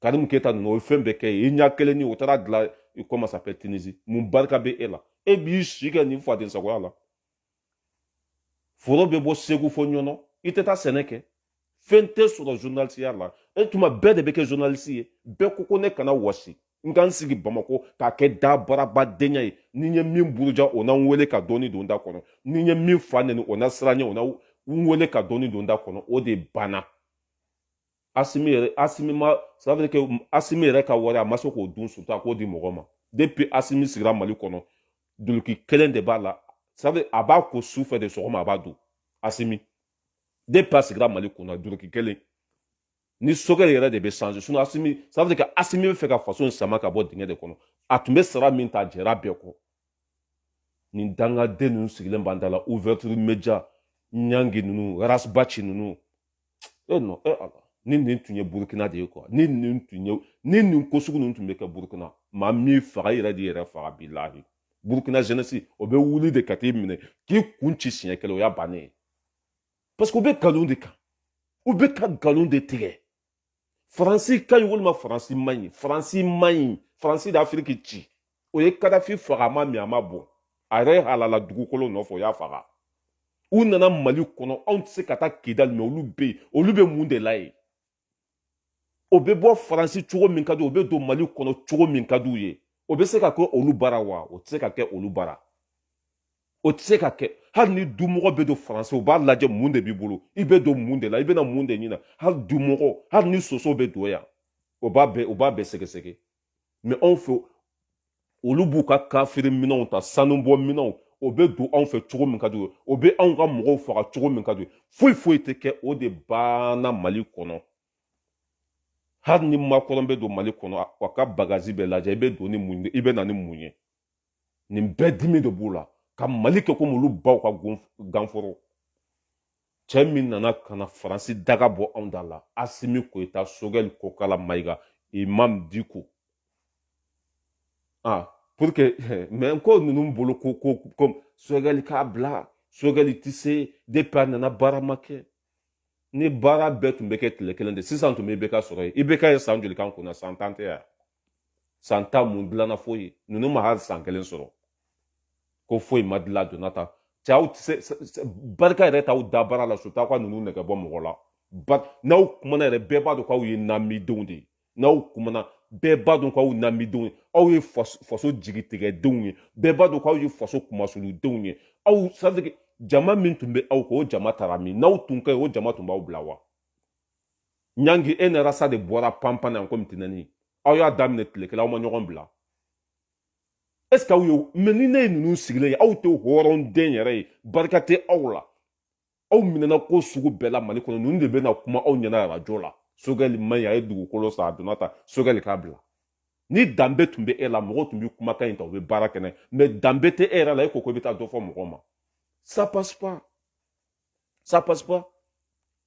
karimu keta ninnu o ye fɛn bɛɛ k'i ye i ɲa kelen nin o taara dila i comment ça s'appelle Tunisie mun barika bɛ e la e b'i si kɛ nin fadensagoya la foro bɛ bɔ segu fɔ ɲɔnɔ i tɛ taa sɛnɛ kɛ fɛn tɛ sɔrɔ zurunalisiya la e tuma bɛɛ de bɛ kɛ zurunalisi ye bɛɛ ko ko ne kana wɔsi n ka n sigi bamakɔ k'a kɛ da baarabadenya ye ni n ye min buruja o na n wele ka dɔɔni don da kɔnɔ ni n ye min fa neni o na siran ɲɛ o na n wele ka dɔɔni don da kɔnɔ o de banna asimi yɛrɛ asimi ma ça veut dire que asimi yɛrɛ ka wari a ma se k'o dun surtout a k'o di mɔgɔ ma depuis asimi sigira mali kɔnɔ duluki kelen de b'a la ça veut dire a b'a ko su fɛ de sɔgɔma a b'a don asimi depuis a sigira mali kunna duluki kelen ni sokɛ yɛrɛ de bɛ changer sinon asimi ça veut dire que asimi b'a fɛ ka faso in sama ka bɔ dingɛ de kɔnɔ a tun bɛ sara min ta a jɛra bɛɛ kɔ nin dangaden ninnu sigilen b'an da la ouverture media ɲangi ninnu ras baci ninnu e non e ala ni nin tun ye burukina de ye quoi ni nin tun ye ni nin ko sugu ninnu tun bɛ kɛ burukina maa m'i faga yɛrɛ d'i yɛrɛ faga bilahi burukina jeunesse o bɛ wuli de ka t'i minɛ k'i kun ci siɲɛ kelen o y'a bannen ye parce que u bɛ nkalon de kan u bɛ ka nkalon de tigɛ faransi ka ɲi walima faransi man ɲi faransi man ɲi faransi de afiriki ci o ye kadafi faga a ma min a ma bɔn a yɛrɛ halala dugukolo nɔfɛ o y'a faga u nana mali kɔnɔ anw tɛ se ka taa kidali mɛ olu bɛ yen olu bɛ mun de la yen o bɛ bɔ faransi cogo min ka di o bɛ don mali kɔnɔ cogo min ka di u ye o bɛ se ka kɛ olu bara wa o tɛ se ka kɛ olu bara o tɛ se ka kɛ hali ni dumɔgɔ bɛ don faransi u b'a lajɛ mun de b'i bolo i bɛ don mun de la i bɛna mun de ɲini hali dumɔgɔ hali ni soso bɛ don yan o b'a bɛɛ o b'a bɛɛ sɛgɛsɛgɛ mais anw fɛ olu b'u ka kafiri minɛnw ta sanubɔ minɛnw o bɛ don anw fɛ cogo min ka d'u ye o bɛ anw ka mɔgɔw faga cogo min ka d'u ye foyi foyi tɛ kɛ o de banna mali kɔnɔ hali ni makɔrɔn bɛ don mali kɔnɔ a ka bagage bɛ lajɛ i bɛ don ni mun ye i bɛ na ni mun ye nin bɛɛ dimi de b'u la ka mali kɛ komi olu baw ka ganforo cɛ min nana ka na faransi daga bɔ anw da la asimi goyita sogɛli kokala mayiga imam diko ah pour que mais ko ninnu bolo ko ko ko sogɛli k'a bila sogɛli tɛ se depuis a nana baara ma kɛ ni baara bɛɛ tun bɛ kɛ tile kelen de sisan tun bɛ IBK sɔrɔ yen IBK ye san joli k'an kunna san tan tɛ yan san tan mun dilanna foyi ninnu ma hali san kelen sɔrɔ ko foyi ma dilan donna ta cɛ aw tɛ se barika yɛrɛ t'aw da baara la surtout aw ka ninnu nɛgɛ bɔ mɔgɔ la ba n'aw kumana yɛrɛ bɛɛ b'a dɔn k'aw ye namidenw de ye n'aw kumana bɛɛ b'a dɔn k'aw namidenw ye aw ye faso jigitigɛdenw ye bɛɛ b'a dɔn k'aw ye faso kunmasulidenw ye aw c'est à dire que jama min tun bɛ aw kɔ o jama taara min n'aw tun ka ɲi o jama tun b'aw bila wa ɲangi e ni rasa de bɔra panpan na yan komi tinɛni aw y'a daminɛ tile kelen aw ma ɲɔgɔn bila est ce que aw ye mais ni ne ye ninnu sigilen ye aw tɛ hɔrɔnden yɛrɛ ye barika tɛ aw la aw minɛna ko sugu bɛɛ la mali kɔnɔ ninnu de bɛna kuma aw ɲɛna arajo la sogɛli man ɲi a ye dugukolo san a donna ta sogɛli k'a bila ni danbe tun bɛ e la mɔgɔw tun bɛ kumakan in ta u bɛ baara kɛ n'a ye mais danbe tɛ e yɛrɛ la e ko ko i bɛ taa dɔ fɔ mɔgɔ ma ça passe pas ça passe pas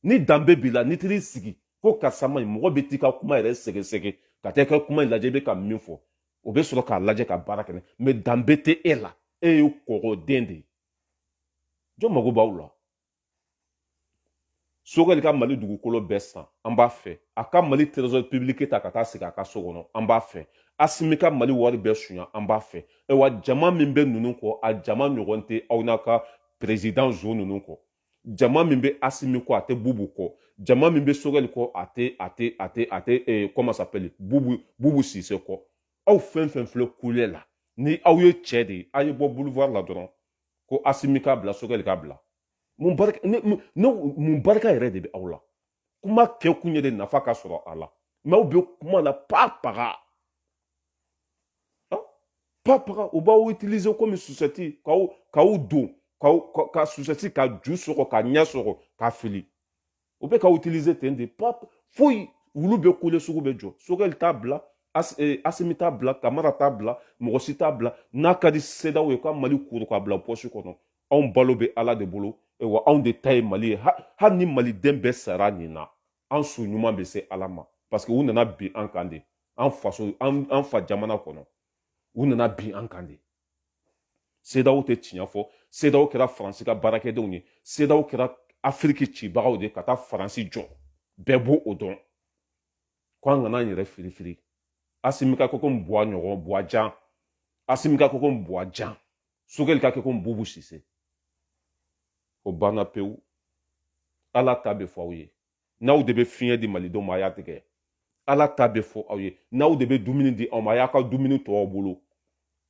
ni danbe b'i la n'i taar'i sigi ko karisa man ɲi mɔgɔ bɛ t'i ka kuma yɛrɛ sɛgɛsɛgɛ ka taa i ka kuma in lajɛ i bɛ ka min fɔ o bɛ sɔrɔ k'a lajɛ ka baara kɛ mais danbe tɛ e la e ye kɔgɔden de ye jɔn mago b'aw la sogɛli ka mali dugukolo bɛɛ san an b'a fɛ a ka mali trésor public ta ka taa sigi a ka so kɔnɔ an b'a fɛ asimi ka mali wari bɛɛ suɲa an b'a fɛ ayiwa jama min bɛ ninnu kɔ a jama ɲɔgɔn tɛ aw n'a ka président zo ninnu kɔ jama min bɛ asimi kɔ a tɛ bubu kɔ jama min bɛ sogɛli kɔ a tɛ a tɛ a tɛ a tɛ eh, comment s'appelle bubu bubu sise kɔ aw fɛn fɛn filɛ kule la ni aw ye cɛ de ye a ye bɔ boulevard la dɔrɔn ko asimi k'a bila sogɛli k'a bila mun barika ne mun barika yɛrɛ de bɛ aw la kuma kɛ kun ye de nafa ka sɔrɔ a la mɛ aw bɛ kuma la pa paga pa paga u b'aw utiliser komi susɛti k'aw k'aw don k'aw ka susɛti ka ju sɔgɔ ka ɲɛ sɔgɔ ka fili u bɛ k'aw utiliser ten de pa foyi wulu bɛ kule sugu bɛ jɔ sogɛli t'a bila Eh, asimi t'a bila kamara t'a bila mɔgɔ si t'a bila n'a ka di sedaw ye ka mali kuru k'a bila pɔsi kɔnɔ anw balo bɛ ala de bolo wa anw de ta ye mali ye hali ni maliden bɛɛ sara nin na an su ɲuman bɛ se ala ma parce que u nana bin an kan de an faso an fa jamana kɔnɔ u nana bin an kan de sedaw tɛ tiɲɛ fɔ sedaw kɛra faransi ka baarakɛdenw ye sedaw kɛra afiriki cibagaw de ka taa faransi jɔ bɛɛ b'o dɔn ko an kana an yɛrɛ firifiri asimi ka kɛ ko buwa ɲɔgɔn buwa jan asimi ka kɛ ko buwa jan sogɛli ka kɛ ko bubu sise o banna pewu ala ta bɛ fɔ aw ye n'aw de bɛ fiɲɛ di malidenw ma a y'a tigɛ ala ta bɛ fɔ aw ye n'aw de bɛ dumuni di an ma a y'aw ka dumuni to aw bolo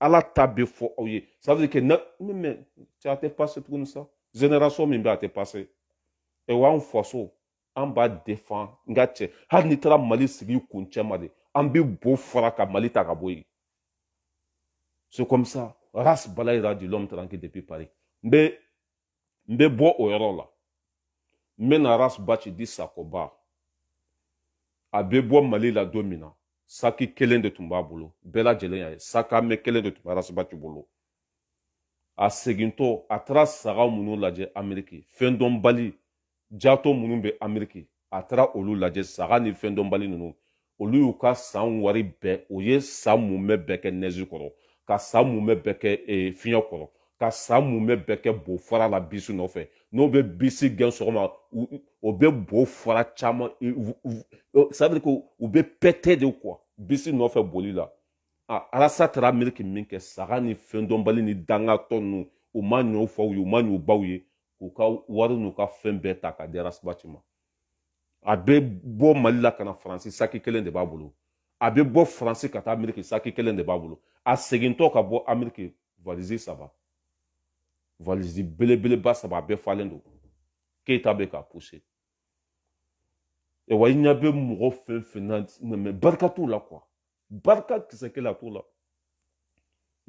ala ta bɛ fɔ aw ye ça veut dire quand même a tɛ passé tuguni sa génération min bɛ a tɛ passé ɛ wa anw faso an b'a défendre n ka cɛ hali n'i taara mali sigi kuncɛ ma de an bɛ bo fara ka mali ta ka bɔ yen c'est comme ça ras balayira dit l'homme tranquille depuis paris n bɛ n bɛ bɔ o yɔrɔ la n bɛ na ras baci di sakoba a bɛ bɔ mali la don min na saki kelen de tun b'a bolo bɛɛ lajɛlen y'a ye sac à main kelen de tun bɛ ras baci bolo a segintɔ a taara saga minnu lajɛ ameriki fɛn dɔnbali jato minnu bɛ ameriki a taara olu lajɛ saga ni fɛn dɔnbali ninnu olu y'u ka san wari bɛɛ o ye san mumɛ bɛɛ kɛ nɛzi kɔrɔ ka san mumɛ bɛɛ kɛ eh, fiɲɛ kɔrɔ ka san mumɛ bɛɛ kɛ bo fara la bisi nɔfɛ n'o bɛ bisi gɛn sɔgɔma o bɛ bo fara caman ça veut dire que u bɛ pɛtɛ de quoi bisi nɔfɛ boli la ras taara ameriki min kɛ saga ni fɛn dɔnbali ni dangatɔ ninnu u ma ɲ'u faw ye u ma ɲ'u baw ye k'u ka wari n'u ka fɛn bɛɛ ta ka di ras baci ma a bɛ bɔ mali la ka na faransi saki kelen de b'a bolo a bɛ bɔ faransi ka taa ameriki saki kelen de b'a bolo a segintɔ ka bɔ ameriki valizi saba valizi belebeleba saba a bɛɛ falen don keyita bɛ k'a pousser E wa i ɲɛ bɛ mɔgɔ fɛn fɛn na mɛ barika t'u la quoi barika kisɛ kelen a t'u la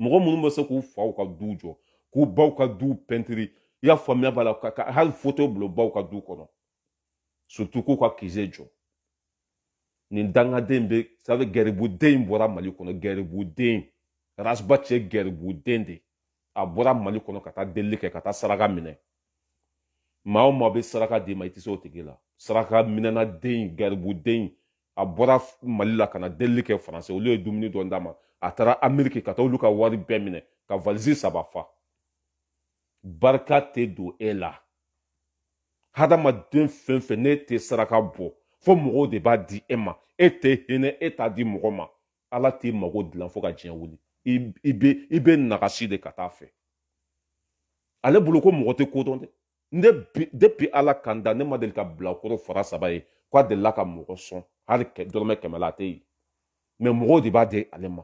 mɔgɔ minnu bɛ se k'u faw ka du jɔ k'u baw ka du pɛntiri i y'a faamuya b'a la ka hali foto bil'u baw ka du kɔnɔ surtout k'u ka kize jɔ nin dangaden bɛ ça veut gɛribuden in bɔra mali kɔnɔ gɛribuden ras baci ye gɛribuden de a bɔra mali kɔnɔ ka taa delili kɛ ka taa saraka minɛ maa o maa bɛ saraka d'i ma i tɛ se o tigi la saraka minɛna den garibuden a bɔra mali la ka na delili kɛ faransi olu ye dumuni dɔ d'a ma a taara ameriki ka taa olu ka wari bɛɛ minɛ ka valisi saba fa barika tɛ don e la hadamaden fɛn fɛn n'e tɛ saraka bɔ fo mɔgɔw de b'a di e ma e tɛ hinɛ e t'a di mɔgɔ ma ala t'i mago dilan fo ka diɲɛ wuli i bɛ i bɛ nagasi de ka taa fɛ ale bolo ko mɔgɔ tɛ kodɔn dɛ ne depuis ala ka n da ne ma deli ka bilakoro fara saba ye ko a delila ka mɔgɔ sɔn hali dɔrɔmɛ kɛmɛ la a tɛ yen mais mɔgɔw de b'a di ale ma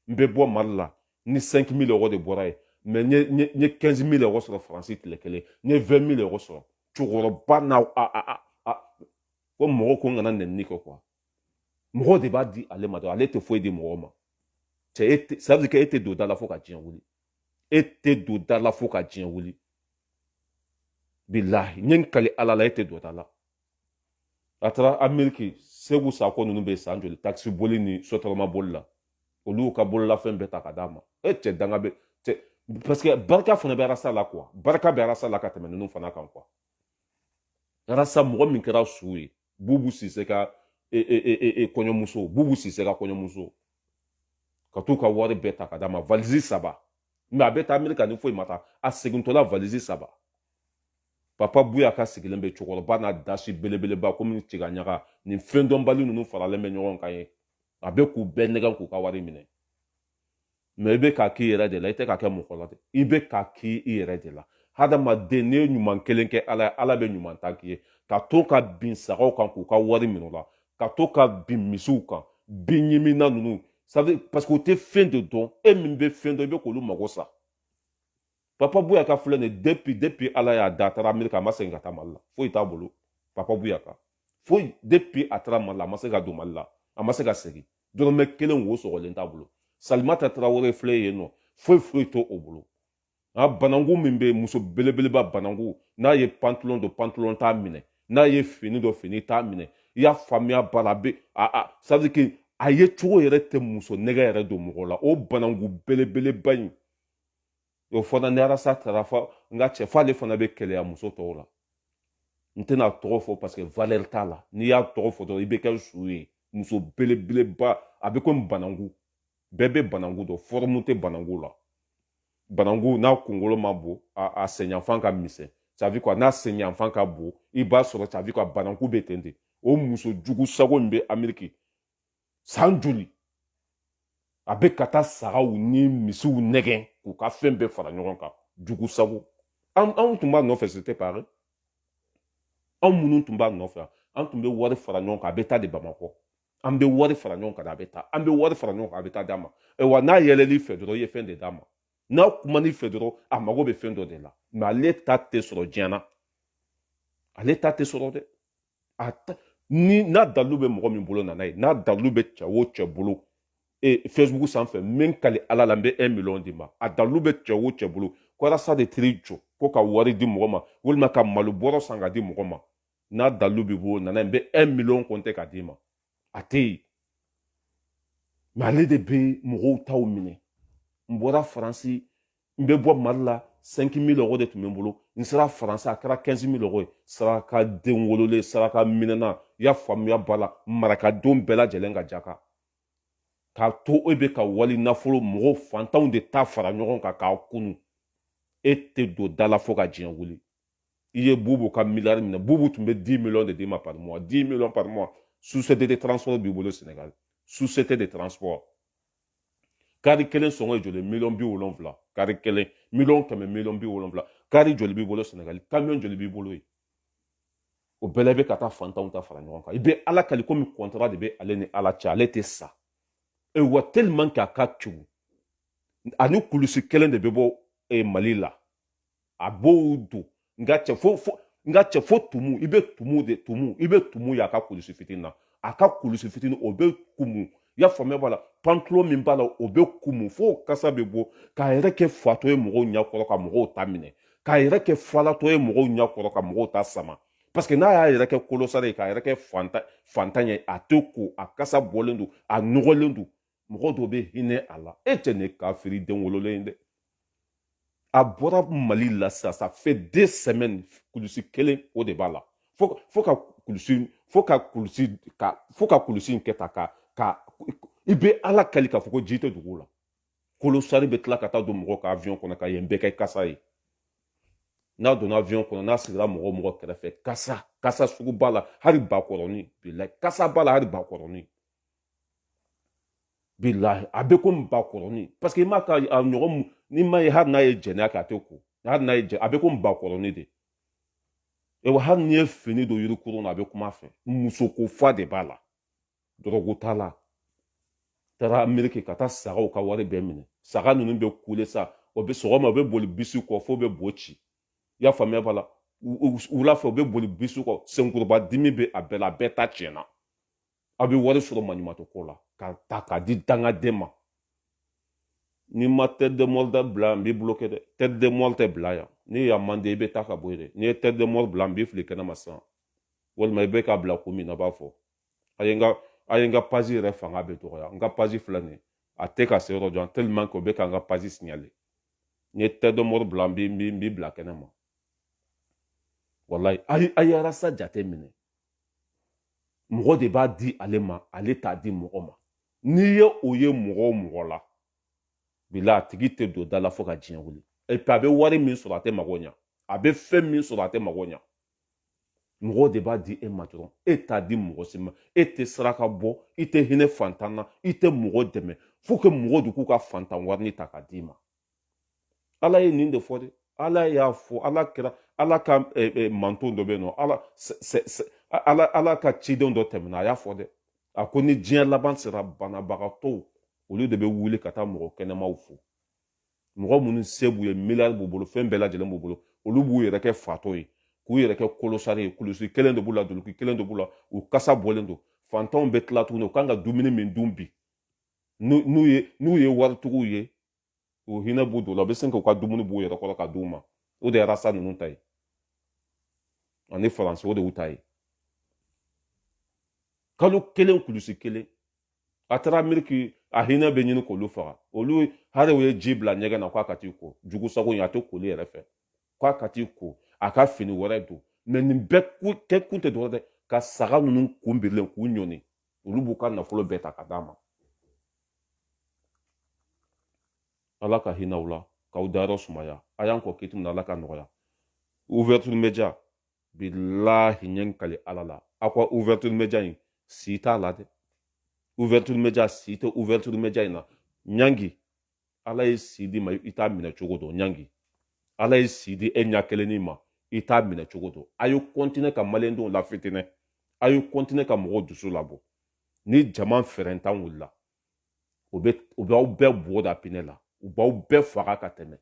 n bɛ bɔ mali la ni 5 mille euros de bɔra ye mais n ye 15 mille euros sɔrɔ faransi tile kelen n ye 20 mille euros sɔrɔ cɛkɔrɔba n'a ko mɔgɔ ko n kana nɛni kɛ quoi mɔgɔw de b'a di ale ma dɔrɔn ale tɛ foyi di mɔgɔw ma cɛ e tɛ ça veut dire que e tɛ don da la fo ka diɲɛ wuli e tɛ don da la fo ka diɲɛ wuli bilahi n ye n kali ala la e tɛ don da la a taara ameriki segu sako ninnu bɛ san joli takisi boli ni sotarama boli la olu y'u ka bololafɛn bɛɛ ta ka d'a ma e cɛ danga bɛ cɛ parce que barika fana bɛ arasa la quoi barika bɛ arasa la ka tɛmɛ ninnu fana kan quoi arasa mɔgɔ min kɛra su ye bubu sise ka e, e, e, e, e kɔɲɔmuso bubu sise ka kɔɲɔmuso ka t'u ka wari bɛɛ ta ka d'a ma valisi saba mais a bɛ taa amerika ni foyi ma taa a segintɔla valisi saba papa buyaka sigilen bɛ cɛkɔrɔba n'a dasi belebeleba komi tiga ɲaga nin fɛn dɔnbali ninnu faralen bɛ ɲɔgɔn kan ye a bɛ k'u bɛɛ nɛgɛn k'u ka wari minɛ mais i bɛ k'a k'i yɛrɛ de la i tɛ k'a kɛ mɔgɔ la dɛ i bɛ k'a k'i i yɛrɛ de la hadamaden n'i ye ɲuman kelen kɛ ala ye ala bɛ ɲuman tan k'i ye ka to ka bin sagaw kan k'u ka wari minɛ o la ka to ka bin misiw kan bin ɲimina ninnu sabu parce que u tɛ fɛn de dɔn e min bɛ fɛn dɔn i bɛ k'olu mago sa papa buyaka filɛ nin depuis depuis ala y'a da a taara amerika a ma segin ka taa mali la foyi t'a bolo papa buyaka foyi depuis a taara mali la a ma se ka don mali la a ma se ka segin dɔrɔmɛ kelen wo sɔgɔlen t'a bolo salimata tarawele filɛ yen nɔ foyi foyi t'o bolo a bananku min bɛ muso belebeleba bananku n'a ye pantalon don pantalon t'a minɛ n'a ye fini don fini t'a minɛ i y'a faamuya bara bɛ a a ça veut dire que a yecogo yɛrɛ tɛ muso nɛgɛ yɛrɛ don mɔgɔ la o bananku belebeleba in o fana ni arasa taara fɔ n ka cɛ f'ale fana bɛ kɛlɛya muso tɔw la n tɛna tɔgɔ fɔ parce que valeur t'a la n'i y'a tɔgɔ fɔ dɔrɔn i bɛ kɛ su ye muso belebeleba a bɛ komi bananku bɛɛ bɛ bananku dɔn forme tɛ bananku la bananku n'a kunkolo ma bon a a senyanfan ka misɛn ça veut quoi n'a senyanfan ka bon i b'a sɔrɔ ça veut quoi bananku bɛ ten ten o muso jugu sago min bɛ ameriki san joli a bɛ ka taa sagaw ni misiw nɛgɛn k'u ka fɛn bɛɛ fara ɲɔgɔn kan jugu sago anw tun b'a nɔfɛ c'était pareil anw minnu tun b'a nɔfɛ an tun bɛ wari fara ɲɔgɔn kan a bɛ taa de bamakɔ an bɛ wari fara ɲɔgɔn kan a bɛ taa an bɛ wari fara ɲɔgɔn kan a bɛ taa d'a ma wa n'a yɛlɛl'i fɛ dɔrɔn i ye fɛn de d'a ma n'a kuman'i fɛ dɔrɔn a mago bɛ fɛn dɔ de la mais ale ta tɛ sɔrɔ diɲɛ na ale ta tɛ sɔrɔ dɛ a ta ni n'a dalilu bɛ mɔgɔ min bolo na n'a ye n'a dalilu bɛ cɛ o cɛ bolo e facebook sanfɛ min kali ala la n bɛ 1 million d'i ma a dalilu bɛ cɛ o cɛ bolo ko alasa de tiri jɔ ko ka wari di mɔgɔ ma walima ka malo bɔrɔ san ka di mɔgɔ ma n'a dalilu b'i bolo na n'a ye n bɛ 1 million kɔnte ka d'i ma a tɛ yen mais ale de bɛ mɔgɔw taw minɛ n bɔra faransi n bɛ bɔ mali la 5 mille euros de tun bɛ n bolo n sera faransi a kɛra 15 mille euros ye saraka den wololen saraka minɛna i y'a faamuya b'a la marakadenw bɛɛ lajɛlen ka jaka k'a to e bɛ ka wali nafolo mɔgɔw fantanw de ta fara ɲɔgɔn kan k'a kunu e tɛ don da la fo ka diɲɛ wuli i ye bubu ka miliyari minɛ bubu tun bɛ 10 miliyɔn de d'i ma par mois 10 miliyɔn par mois société de transport b'i bolo sénégal société de transport kari kelen sɔngɔ ye joli miliyɔn bi wolonfila kari kelen miliyɔn kɛmɛ miliyɔn bi wolonfila kari joli b'i bolo sɛnɛgali kamiyɔn joli b'i bolo yen o bɛɛ la i bɛ ka taa fantanw ta fara ɲɔgɔn kan i bɛ ala kali komi kɔntara de bɛ ale ni ala cɛ ale tɛ sa awa tellement que a ka jugu a ni kulusi kelen de bɛ bɔ e, mali la a b'o don nka cɛ fo fo nka cɛ fo tumu i bɛ tumu de tumu i bɛ tumu y'a ka kulusi fitinin na a ka kulusi fitinin o bɛ kumu i y'a faamuya b'a la pantalon min b'a la o bɛ kumu fo kasa bɛ bɔ k'a yɛrɛ kɛ fatɔ ye mɔgɔw ɲɛkɔrɔ ka mɔgɔw ta minɛ k'a yɛrɛ kɛ falatɔ ye mɔgɔw ɲɛkɔrɔ ka mɔgɔw ta sama parce que n'a y'a yɛrɛ kɛ kolosari ye k'a yɛrɛ kɛ fantan ye a tɛ ko a kasa bɔlen don a nɔgɔlen don mɔgɔ dɔ bɛ hinɛ a la e tɛ ne kafiri den wololen ye dɛ a bɔra mali la sisan ça fait deux semaines kulusi kelen o de b'a la fo fo ka kulusi fo ka kulusi ka fo ka kulusi in kɛ ta ka ka i bɛ ala kali k'a fɔ ko ji tɛ dugu la kolosari bɛ tila ka taa don mɔgɔ ka avion kɔnɔ ka yen bɛɛ kɛ kasa ye n'a donna avion kɔnɔ n'a sigira mɔgɔ mɔgɔ kɛrɛfɛ kasa kasa sugu b'a la hali bakɔrɔni bilahi kasa b'a la hali bakɔrɔni bilahi a bɛ komi bakɔrɔni parce que i m'a ka a ɲɔgɔn mu ni ma ye hali n'a ye jɛnɛya kɛ a tɛ ko hali n'a ye jɛ a bɛ komi bakɔrɔni de awa hali n'i ye fini don yirikurun na a bɛ kum'a fɛ musoko fa de b'a la dɔrɔgu t'a la taara ameriki ka taa sagaw ka wari bɛɛ minɛ saga ninnu bɛ kule sa o bɛ sɔgɔma o bɛ boli bisi kɔ f'o bɛ bo ci i y'a faamuya b'a la wula fɛ o bɛ boli bisi kɔ senkuruba dimi bɛ a bɛɛ la a bɛɛ ta tiɲɛna a bɛ wari sɔrɔ maɲumatɔ ko la k'a ta k'a di dangaden ma n'i ma tête de mort dabila n b'i bloquer dɛ tête de mort tɛ bila yan ni yan man di i bɛ taa ka bɔ yen dɛ n'i ye tête de mort bila n b'i fili kɛnɛma sisan walima i bɛ k'a bila kun min na b'a fɔ a ye n ka a ye n ka page yɛrɛ fanga bɛ dɔgɔya n ka page filɛ nin ye a tɛ ka se yɔrɔ jan tellement que o bɛ ka n ka page signaler n'i ye tête de mort bila n b'i bila kɛnɛma walayi a ye arasa jate minɛ mɔgɔ de b'a di ale ma ale t'a di mɔgɔ ma n'i ye o ye mɔgɔ o mɔgɔ la bilahi a tigi tɛ don da la fo ka diɲɛ wuli et puis a bɛ wari min sɔrɔ a tɛ mago ɲa a bɛ fɛn min sɔrɔ a tɛ mago ɲa mɔgɔw de b'a di e ma dɔrɔn e t'a di mɔgɔ si ma e tɛ saraka bɔ i tɛ hinɛ fantan na i tɛ mɔgɔ dɛmɛ faut que mɔgɔ de k'u ka fantan warini ta ka d'i ma ala ye nin de fɔ dɛ ala y'a fɔ ala kira ala ka eh, eh, manto dɔ bɛ yen nɔ ala ala ala ka cidenw dɔ tɛmɛna a y'a fɔ dɛ a ko ni diɲɛ laban sera banabagatɔw olu de bɛ wuli ka taa mɔgɔ kɛnɛmanw fo mɔgɔ minnu se b'u ye miliyari b'u bolo fɛn bɛɛ lajɛlen b'u bolo olu b'u yɛrɛ kɛ fatɔ ye k'u yɛrɛ kɛ clochard ye kulusi kelen de b'u la duluki kelen de b'u la u kasa bɔlen don fantanw bɛ tila tuguni u kan ka dumuni min dun bi n'u ye n'u ye waritigiw ye u hinɛ bɛ don u la u bɛ sin k'u ka dumuni b'u yɛrɛ kɔrɔ ka d'u ma o de ye arasa ninnu ta ye ani faransi o de y'u ta ye kalo kelen kulusi kelen a taara ameriki a hinɛ bɛ ɲini k'olu faga olu hali u ye ji bila ɲɛgɛn na k'a ka t'i ko jugu sago in a tɛ koli yɛrɛ fɛ k'a ka t'i ko a ka fini wɛrɛ don mais nin bɛɛ kɛ kun tɛ dɔrɔn dɛ ka saga ninnu kun birilen k'u ɲɔni olu b'u ka nafolo bɛɛ ta ka d'a ma ala ka hinɛ aw la k'aw dayɔrɔ sumaya a y'an kɔn kiti min na ala k'a nɔgɔya ouverture media bilahi n ye n kali ala la aw ka ouverture media in si t'a la dɛ ouverture media si tɛ ouverture media in na ɲangi ala ye si d'i ma i t'a minɛ cogo dɔn ɲangi ala ye si di e ɲɛ kelenni ma i t'a minɛ cogo dɔn a ye continuer ka maliyɛndenw lafitinɛ a ye continuer ka mɔgɔw dusu labɔ ni jama fɛrɛntan wulila o bɛ u b'aw bɛɛ bugɔ da pinɛ la u b'aw bɛɛ faga ka tɛmɛ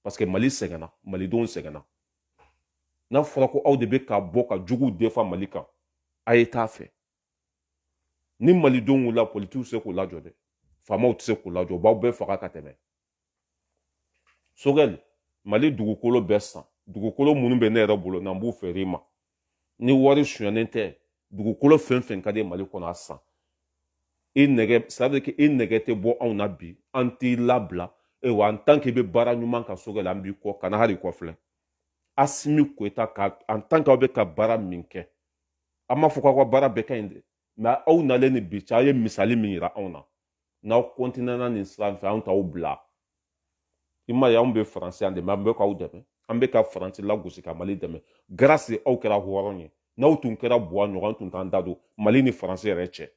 parce que mali sɛgɛnna malidenw sɛgɛnna n'a fɔra ko aw de bɛ ka bɔ ka juguw defa mali kan a ye t'a fɛ ni malidenw wulila politikiw tɛ se k'u lajɔ dɛ faamaw tɛ se k'u lajɔ u b'aw bɛɛ faga ka tɛmɛ sogɛli mali dugukolo bɛɛ san dugukolo minnu bɛ ne yɛrɛ bolo n'an b'u feere i ma ni wari sonyɛnen tɛ dugukolo fɛn fɛn ka di mali kɔnɔ a san i nɛgɛ c'est que i nɛgɛ tɛ bɔ anw na bi an t'i labila ewa en tant que i bɛ baara ɲuman kan sogɛli an b'i kɔ kana hali kɔfilɛ asimi koyita ka en tant que aw bɛ ka baara min kɛ an m'a fɔ k'aw ka baara bɛɛ ka ɲi dɛ mɛ aw nalen ni bi cɛ aw ye misali min yira anw na n'aw kɔntinɛna nin sira fɛ anw t'aw bila i m'a ye anw bɛ faransi yan de mɛ an bɛ k'aw dɛmɛ an bɛ ka faransi lagosi ka mali dɛmɛ garasi aw kɛra hɔrɔn ye n'aw tun kɛra buwa ɲɔgɔn an tun t'an da don mali ni faransi yɛrɛ cɛ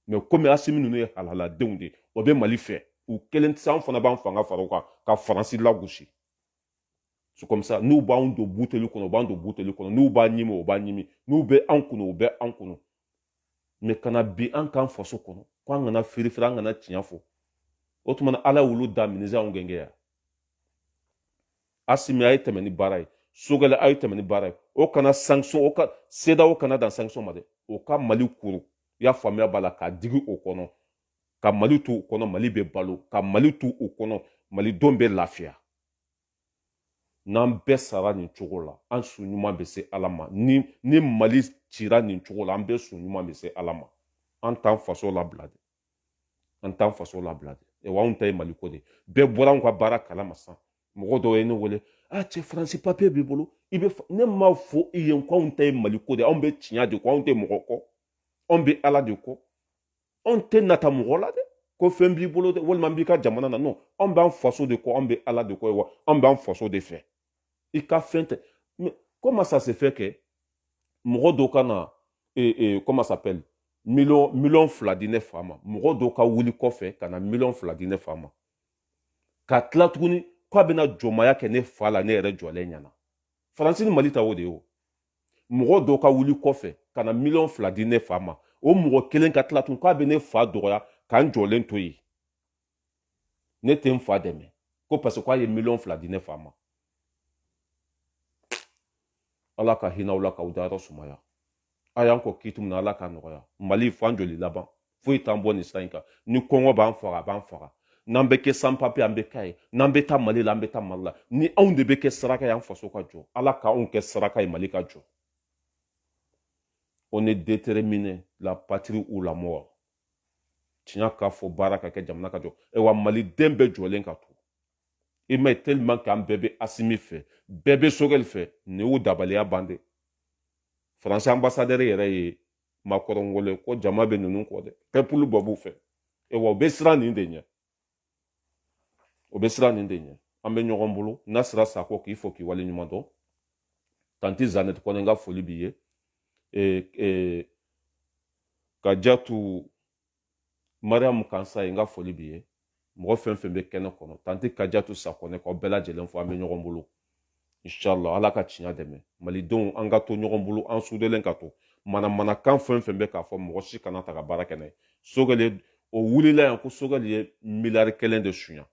mɛ komi asimi ninnu ye halaladenw de ye o bɛ mali fɛ u kelen tɛ se an fana b'an fanga fara u kan ka faransi lagosi c'est comme ça n'u b'anw don buteli kɔnɔ u b'an don buteli kɔnɔ n'u b'a ɲimi o b'a ɲimi n'u bɛ an kunu u bɛ an kunu mɛ ka na bin an kan faso kɔnɔ ko an kana firifiri an kana tiɲɛ fɔ o tuma na ala y'olu da minisi anw gɛngɛ yan asimi a ye tɛmɛ ni baara ye sogɛlɛ a ye tɛmɛ ni baara ye o kana sanction o ka sedeyawo kana dan sanction ma dɛ o ka mali kuru i y'a faamuya b'a la k'a digi o kɔnɔ ka mali to u kɔnɔ mali bɛ balo ka mali to u kɔnɔ malidenw bɛ lafiya n'an bɛɛ sara nin cogo la an su ɲuman bɛ se ala ma ni mali cira nin cogo la an bɛɛ su ɲuman bɛ se ala ma an t'an faso labila de an t'an faso labila de ewa anw ta ye mali ko de bɛɛ bɔra anw ka baara kalama sisan mɔgɔ dɔw ye ne wele a cɛ faransi papiye b'i bolo i bɛ ne m'a fɔ i ye ko anw ta ye mali ko de anw bɛ tiɲɛ de kɔ anw tɛ mɔgɔ kɔ anw bɛ ala de kɔ anw tɛ nata mɔgɔ la dɛ ko fɛn b'i bolo dɛ walima n b'i ka jamana na non anw b'an faso de kɔ anw bɛ ala de kɔ ewa anw b'an faso de fɛ i ka fɛn tɛ comment ça se fait que mɔgɔ dɔw ka na eh, eh, comment ça s'appelle miliyɔn miliyɔn fila di ne fa ma mɔgɔ dɔw ka wuli kɔfɛ ka na miliyɔn fila di ne fa ma ka tila tuguni k'a bɛna jɔnmaya kɛ ne fa la ne yɛrɛ jɔlen ɲɛna faransi ni mali ta o de ye o mɔgɔ dɔ ka wuli kɔfɛ ka na miliyɔn fila di ne fa ma o mɔgɔ kelen ka tila tun k'a bɛ ne fa dɔgɔya ka n jɔlen to yen ne tɛ n fa dɛmɛ ko parce que k'a ye miliyɔn fila di ne fa ma ala ka hinɛ aw la k'aw dayɔrɔ sumaya a y'an kɔn kiiti min na ala k'a nɔgɔya mali fo an joli laban foyi t'an bɔ nin sira in kan ni kɔngɔ b'an faga a b'an faga n'an bɛ kɛ sans papier an bɛ k'a ye n'an bɛ taa mali la an bɛ taa mali la ni anw de bɛ kɛ saraka ye an faso ka jɔ ala ka anw kɛ saraka ye mali ka jɔ on est déterminé la patrie ou la mort tiɲɛ ka fɔ baara ka kɛ jamana ka jɔ ayiwa maliden bɛɛ jɔlen ka to i m'a ye tellement que an bɛɛ bɛ asimi fɛ bɛɛ bɛ sogɛli fɛ nin y'u dabaliya ban de faransi ambasadɛri yɛrɛ ye makɔrɔn wele ko jama bɛ ninnu kɔ dɛ pɛpuluba b'u fɛ e wa u bɛ siran nin de ɲɛ o bɛ siran nin de ɲɛ an bɛ ɲɔgɔn bolo nasira sako k'i fo k'i wale ɲuman dɔn tanti zanɛti kɔnɛ n ka foli b'i ye kajatu mariyamu kansayi n ka foli b'i ye mɔgɔ fɛn fɛn bɛ kɛnɛ kɔnɔ tanti kajatu sakɔnɛ k'aw bɛɛ lajɛlen fo an bɛ ɲɔgɔn bolo inshallah ala ka tiɲɛ dɛmɛ malidenw an ka to ɲɔgɔn bolo an sudelen ka to manamanakan fɛn fɛn bɛ k'a fɔ mɔgɔ si kana ta ka baara kɛ n'a ye sogɛli o wulila yan ko sogɛli ye miliyari kelen de suɲa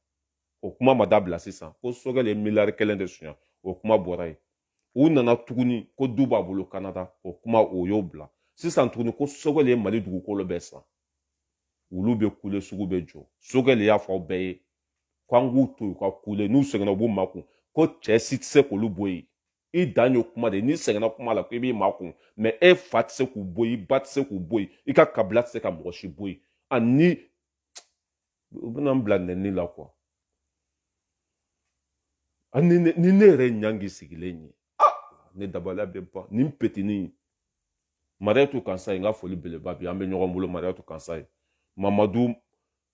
o kuma ma dabila sisan ko sogɛli ye miliyari kelen de suɲa o kuma bɔra yen u nana tuguni ko du b'a bolo kanada o kuma o y'o bila sisan tuguni ko sogɛli ye mali dugukolo bɛɛ san olu bɛ kule sugu bɛ jɔ sogɛli y'a fɔ aw bɛɛ ye ko an k'u to yen ka kule n'u sɛgɛnna u b'u makun ko cɛ si tɛ se k'olu bɔ yen i dan ye kuma de ye n'i sɛgɛnna kuma la ko i b'i makun mais e fa tɛ se k'u bɔ yen i ba tɛ se k'u bɔ yen i ka kabila tɛ se ka mɔgɔ si bɔ yen ani u bɛna n bila nɛni la quoi ani ni ne yɛrɛ ɲangi sigilen ye ah ne dabaliya bɛ ban nin petinin mariyatu kansayi n ka foli beleba b'i an bɛ ɲɔgɔn bolo mariyatu kansayi mamadu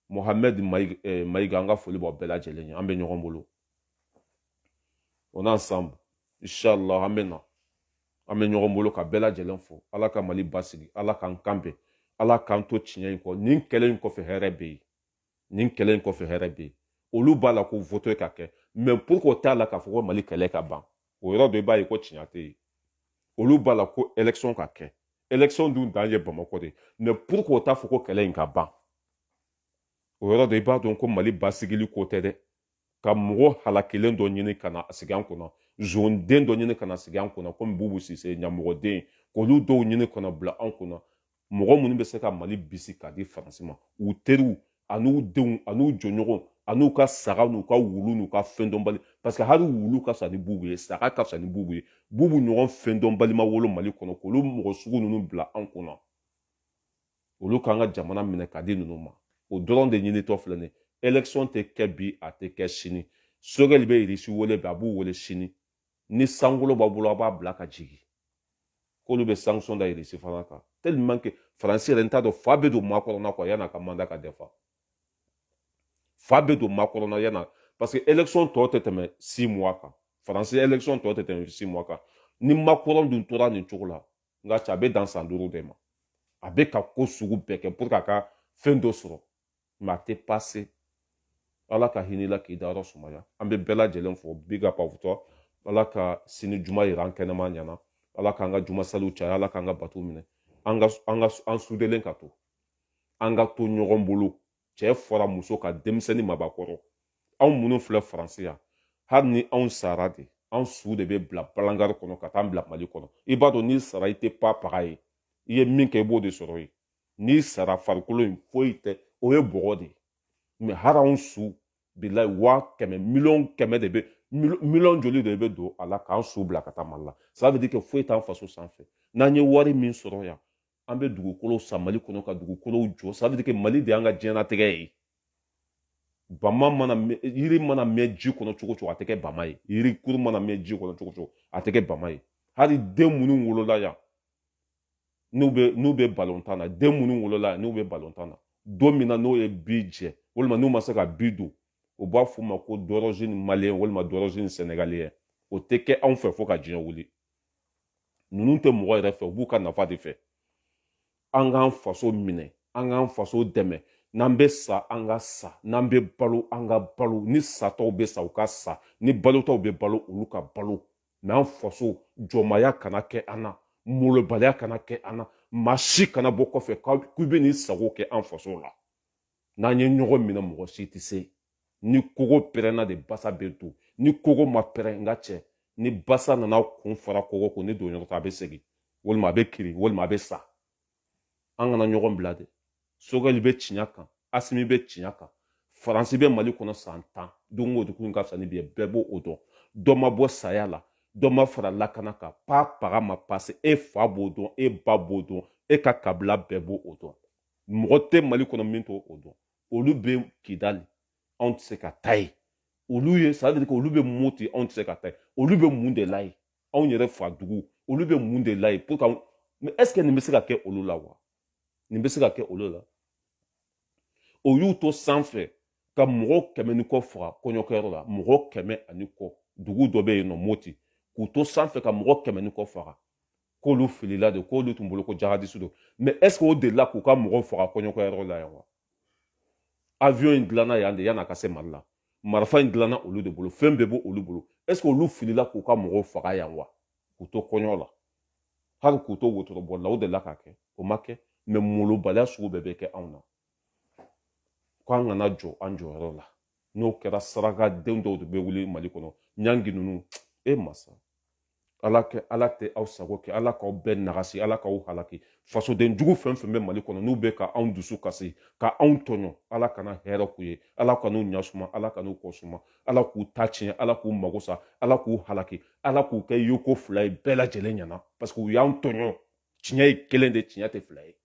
mohamɛd eh, mayiga n ka foli b'aw bɛɛ lajɛlen ye an bɛ ɲɔgɔn bolo on est ensemble inshallah an bɛ na an bɛ ɲɔgɔn bolo ka bɛɛ lajɛlen fo ala ka mali basigi ala k'an kan bɛn ala k'an to tiɲɛ in kɔ nin kɛlɛ in kɔfɛ hɛrɛ bɛ yen nin kɛlɛ in kɔfɛ hɛrɛ bɛ yen olu b'a la ko voto ka kɛ mais pourquoi u t'a la k'a fɔ ko mali kɛlɛ ka ban o yɔrɔ dɔ i b'a ye ko tiɲɛ tɛ yen olu b'a la ko élection ka kɛ élection dun dan ye bamakɔ de ye mais pourquoi u t'a fɔ ko kɛlɛ in ka ban o yɔrɔ dɔ i b'a dɔn ko mali basigili ko tɛ dɛ ka mɔgɔ halakilen dɔ ɲini ka na sigi an kunna zonden dɔ ɲini ka na sigi an kunna komi bubu sise ɲamɔgɔden k'olu dɔw ɲini ka na bila an kunna mɔgɔ minnu bɛ se ka mali bisi k'a di faransi ma u teriw an'u denw an'u jɔɲɔgɔn an'u ka saga n'u ka wulu n'u ka fɛn dɔnbali parce que hali wulu ka fisa ni bubu ye saga ka fisa ni bubu ye bubu ɲɔgɔn fɛn dɔnbali ma wolo mali kɔnɔ k'olu mɔgɔ sugu ninnu bila an kunna olu k'an ka jamana minɛ k'a di ninnu ma o dɔrɔn de ɲinitɔ filɛ nin élection tɛ kɛ bi a tɛ kɛ sini sogɛli bɛ irisi wele bi a b'u wele sini ni sankolo b'a bolo a b'a bila ka jigin k'olu bɛ sanction da irisi fana kan tellement que faransi yɛrɛ n t'a dɔn fa bɛ don makɔrɔn na quoi yan'a ka mandat ka dafa fa bɛ don makɔrɔn na yan'a parce que élection tɔ tɛ tɛmɛ six mois kan faransi élection tɔ tɛ tɛmɛ six mois kan ni makɔrɔn dun tora nin cogo la n ka cɛ a bɛ dan san duuru de ma a bɛ ka ko sugu bɛɛ kɛ pour que a ka fɛn dɔ sɔrɔ mais a tɛ passer ala ka hinɛ i la k'i dayɔrɔ sumaya an bɛ bɛɛ lajɛlen fo big up à vous tous ala ka sini juma yira an kɛnɛman ɲɛ na ala k'an ka juma saliw caya ala k'an ka bato minɛ an ka an ka an sudelen ka to an ka to ɲɔgɔn bolo cɛ fara muso kan denmisɛnnin mabakɔrɔ anw minnu filɛ faransi yan hali ni anw sara de anw su de bɛ bila balangari kɔnɔ ka taa bila mali kɔnɔ i b'a dɔn n'i sara i tɛ pa paga ye i ye min kɛ i b'o de sɔrɔ yen n'i sara farikolo in foyi tɛ o ye bɔgɔ de ye mais hali anw su bilayi waa kɛmɛ miliyɔn kɛmɛ de bɛ miliyɔn joli de bɛ don a la k'an su bila ka taa mali la ça veut dire que foyi t'an faso sanfɛ n'an ye wari min sɔrɔ yan an bɛ dugukolo san mali kɔnɔ ka dugukolow jɔ ça veut dire que mali de y'an ka diɲɛnatigɛ ye bama mana yiri mana mɛn ji kɔnɔ cogo cogo a tɛ kɛ bama ye yiri kuru mana mɛn ji kɔnɔ cogo cogo a tɛ kɛ bama ye hali den minnu wolola yan n'u bɛ n'u bɛ balontan na den minnu wolola yan n'u bɛ balontan na don min na n'o ye bi jɛ walima n'u ma se ka bi don u b'a f'o ma ko d'origine malien walima d'origine sénégalien o tɛ kɛ anw fɛ fo ka diɲɛ wuli ninnu tɛ mɔgɔ yɛrɛ fɛ u b'u ka nafa de fɛ an k'an faso minɛ an k'an faso dɛmɛ n'an bɛ sa an ka sa n'an bɛ balo an ka balo ni sataw bɛ sa u ka sa ni balotaw bɛ balo olu ka balo mais an faso jɔnmaya kana kɛ an na molobaliya kana kɛ an na maa si kana bɔ kɔfɛ k'u bɛ n'i sago kɛ an faso la n'an ye ɲɔgɔn minɛ mɔgɔ si tɛ se ni kogo pɛrɛnna de basa bɛ don ni kogo ma pɛrɛn n ka cɛ ni basa nana kun fara kogo kun ni don ɲɔgɔn a bɛ segin walima a bɛ kirin walima a bɛ sa an kana ɲɔgɔn bila de sogɛli bɛ ciɲa kan asimi bɛ ciɲa kan faransi bɛ mali kɔnɔ san tan don o don ka fisa ni bi ye bɛɛ b'o o dɔn dɔ ma bɔ saya la dɔ ma fara lakana kan pa paga ma pase e fa b'o dɔn e ba b'o dɔn e ka kabila bɛɛ b'o o dɔn mɔgɔ tɛ mali kɔnɔ min t'o o dɔn olu bɛ kidali anw tɛ se ka taa yen olu ye ça veut dire que olu bɛ moti anw tɛ se ka taa yen olu bɛ mun de la yen anw yɛrɛ fa dugu olu bɛ mun de la yen pour que mais est ce que nin bɛ se ka kɛ olu la wa nin bɛ se ka kɛ olu la o y'u to sanfɛ ka mɔgɔ kɛmɛ ni kɔ faga kɔɲɔkɛyɔrɔ la mɔgɔ kɛmɛ ani kɔ dugu dɔ bɛ yen nɔ moti k'u to sanfɛ ka mɔgɔ kɛmɛ ni kɔ faga k'olu filila de k'olu tun bolo ko jahadisu don mais est ce que o delila k'u ka mɔgɔw faga kɔɲɔkɛyɔrɔ la yan wa avion in dilanna yan de yan'a ka se mali la marifa in dilanna olu de bolo fɛn bɛɛ b'olu bolo est ce que olu filila k'u ka mɔgɔw faga yan wa k'u to kɔɲɔ la hali k'u to wotoroboli la o delila k'a kɛ o ma kɛ mais molobaliya sugu bɛɛ bɛ kɛ anw na ko an kana jɔ an jɔyɔrɔ la n'o kɛra sarakaden dɔw de bɛ wuli mali kɔnɔ ɲangi ninnu e masa ala kɛ ala tɛ aw sago kɛ ala k'aw bɛɛ nagasi ala k'aw halaki fasoden jugu fɛn fɛn bɛ mali kɔnɔ n'u bɛ ka anw dusu kasi ka anw tɔɲɔ ala kana hɛrɛ k'u ye ala kan'u ɲasuma ala kan'u kɔ suma ala k'u ta tiɲɛ ala k'u mago sa ala k'u halaki ala k'u kɛ yoko fila ye bɛɛ lajɛlen ɲɛna parce que u y'an tɔɲɔ tiɲɛ ye kelen de tiɲɛ tɛ fila ye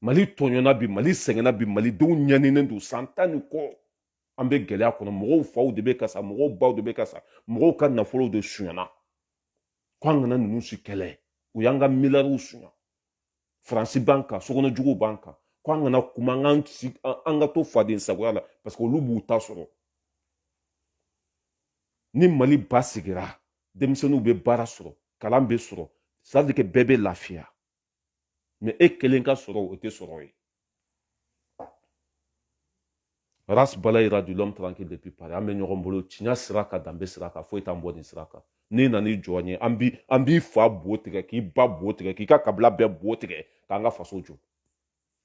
mali tɔɲɔna bi mali sɛgɛnna bi malidenw ɲaninen don san tan ni kɔ an bɛ gɛlɛya kɔnɔ mɔgɔw faw de bɛ ka sa mɔgɔw baw de bɛ ka sa mɔgɔw ka nafolow de sunyana ko an kana ninnu si kɛlɛ u y'an ka miliyariw sunya faransi b'an kan sokɔnɔ juguw b'an kan ko an kana kuma an ka to faden sagoya la parce que olu b'u ta sɔrɔ ni mali basigira denmisɛnninw bɛ baara sɔrɔ kalan bɛ sɔrɔ ça veut dire que bɛɛ bɛ lafiya mais e kelen ka sɔrɔ o tɛ sɔrɔ ye ras balayira dit l'homme tranquille depuis paris an bɛ ɲɔgɔn bolo tiɲɛ sira kan danbe sira kan foyi t'an bɔ nin sira kan n'i nan'i jɔ an ɲɛ an b'i fa bo tigɛ k'i ba bo tigɛ k'i ka kabila bɛɛ bo tigɛ k'an ka faso jɔ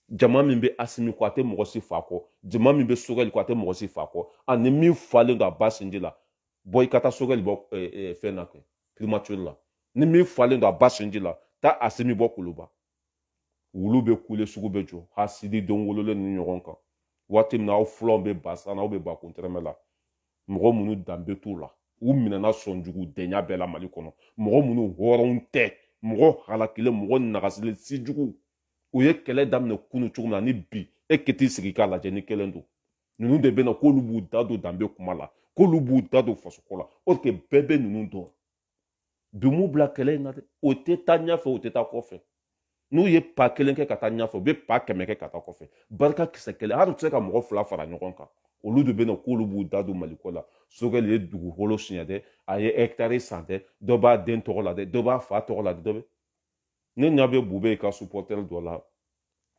jama min bɛ asimi kɔ a tɛ mɔgɔ si fa kɔ jama min bɛ sogɛli kɔ a tɛ mɔgɔ si fa kɔ ani min falen don a ba sinji la bɔ i ka taa sogɛli bɔ fɛn na kɛ primature la ni min falen don a ba sinji la taa asimi bɔ kuluba wulu bɛ kule sugu bɛ jɔ hasidi don wololen ni ɲɔgɔn kan waati min na aw fulanw bɛ ba san na aw bɛ ba kun tɛrɛmɛ la mɔgɔ minnu danbe t'u la u minɛna sɔnjugudenya bɛɛ la mali kɔnɔ mɔgɔ minnu hɔrɔnw tɛ mɔgɔ halakilen mɔgɔ nagasilen sijugu u ye kɛlɛ daminɛ kunu cogo min na ni bi e kɛ t'i sigi k'a lajɛ ni kelen don ninnu de bɛ na k'olu b'u da don danbe kuma la k'olu b'u da don fasoko la or que bɛɛ bɛ ninnu dɔn bi m'u bila kɛlɛ in na dɛ o tɛ taa ɲɛfɛ o tɛ taa kɔfɛ n'u ye pa kelen kɛ ka taa ɲɛfɛ u bɛ pa kɛmɛ kɛ ka taa kɔfɛ barika kisɛ kelen hali u tɛ se ka mɔgɔ fila fara ɲɔgɔn kan olu de bɛ na k'olu b'u da don maliko la sogɛli ye dugukolo suɲɛ dɛ a ye ɛkitari san dɛ dɔ b'a den tɔgɔ la dɛ dɔ b'a fa tɔgɔ la dɛ dɔ bɛ ne ɲa bɛ bubeye ka supporter dɔ la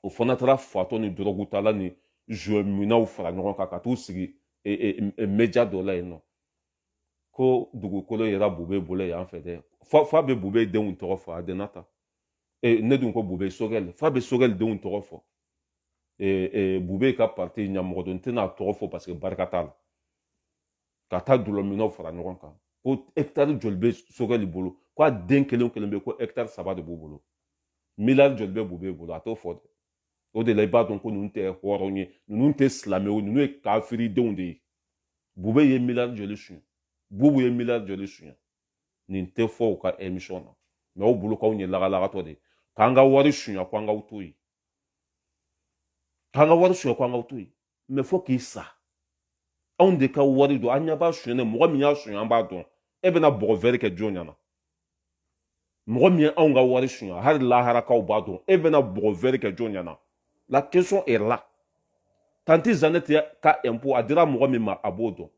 o fana taara fatɔ ni dɔrɔgutala ni joint minnaw fara ɲɔgɔn kan ka t'u sigi e, e, e, media dɔ la yen nɔ ko dugukolo yera bube bolo yan fɛ dɛ f'a bɛ bube denw tɔgɔ fɔ a dɛna ta ne dun ko bube sogɛli f'a bɛ sogɛli denw tɔgɔ fɔ bube ka parti ɲamɔgɔ don n tɛna a tɔgɔ fɔ parce que barika t'a la ka taa dulɔminnaw fara ɲɔgɔn kan ko ɛkitari joli bɛ sogɛli bolo ko a den kelen kelen bɛɛ ko ɛkitari saba de b'u bolo miliyari joli bɛ bube bolo a t'o fɔ dɛ o de la i b'a dɔn ko ninnu tɛ hɔrɔn ye ninnu tɛ silamɛw ninnu ye kafiridenw de ye bube ye miliyari joli suɲɛ bubu ye miliyari joli suɲɛ nin tɛ fɔ u ka emisɔn na mais aw bolo k'anw ye lagalagatɔ de ye k'an ka wari suɲɛ ko an k'aw to yen k'an ka wari suɲɛ ko an k'aw to yen mɛ fo k'i sa anw de ka wari don an ɲɛ b'a sonyɛ mɔgɔ min y'a sonyɛ an b'a dɔn e bɛna bɔgɔ wɛrɛ kɛ jɔn ɲɛ na mɔgɔ min ye anw ka wari sonyɛ hali laharakaw b'a dɔn e bɛna bɔgɔ wɛrɛ kɛ jɔn ɲɛ na la question est là tanti zanɛti ka impôt a dira mɔgɔ min ma a b'o dɔn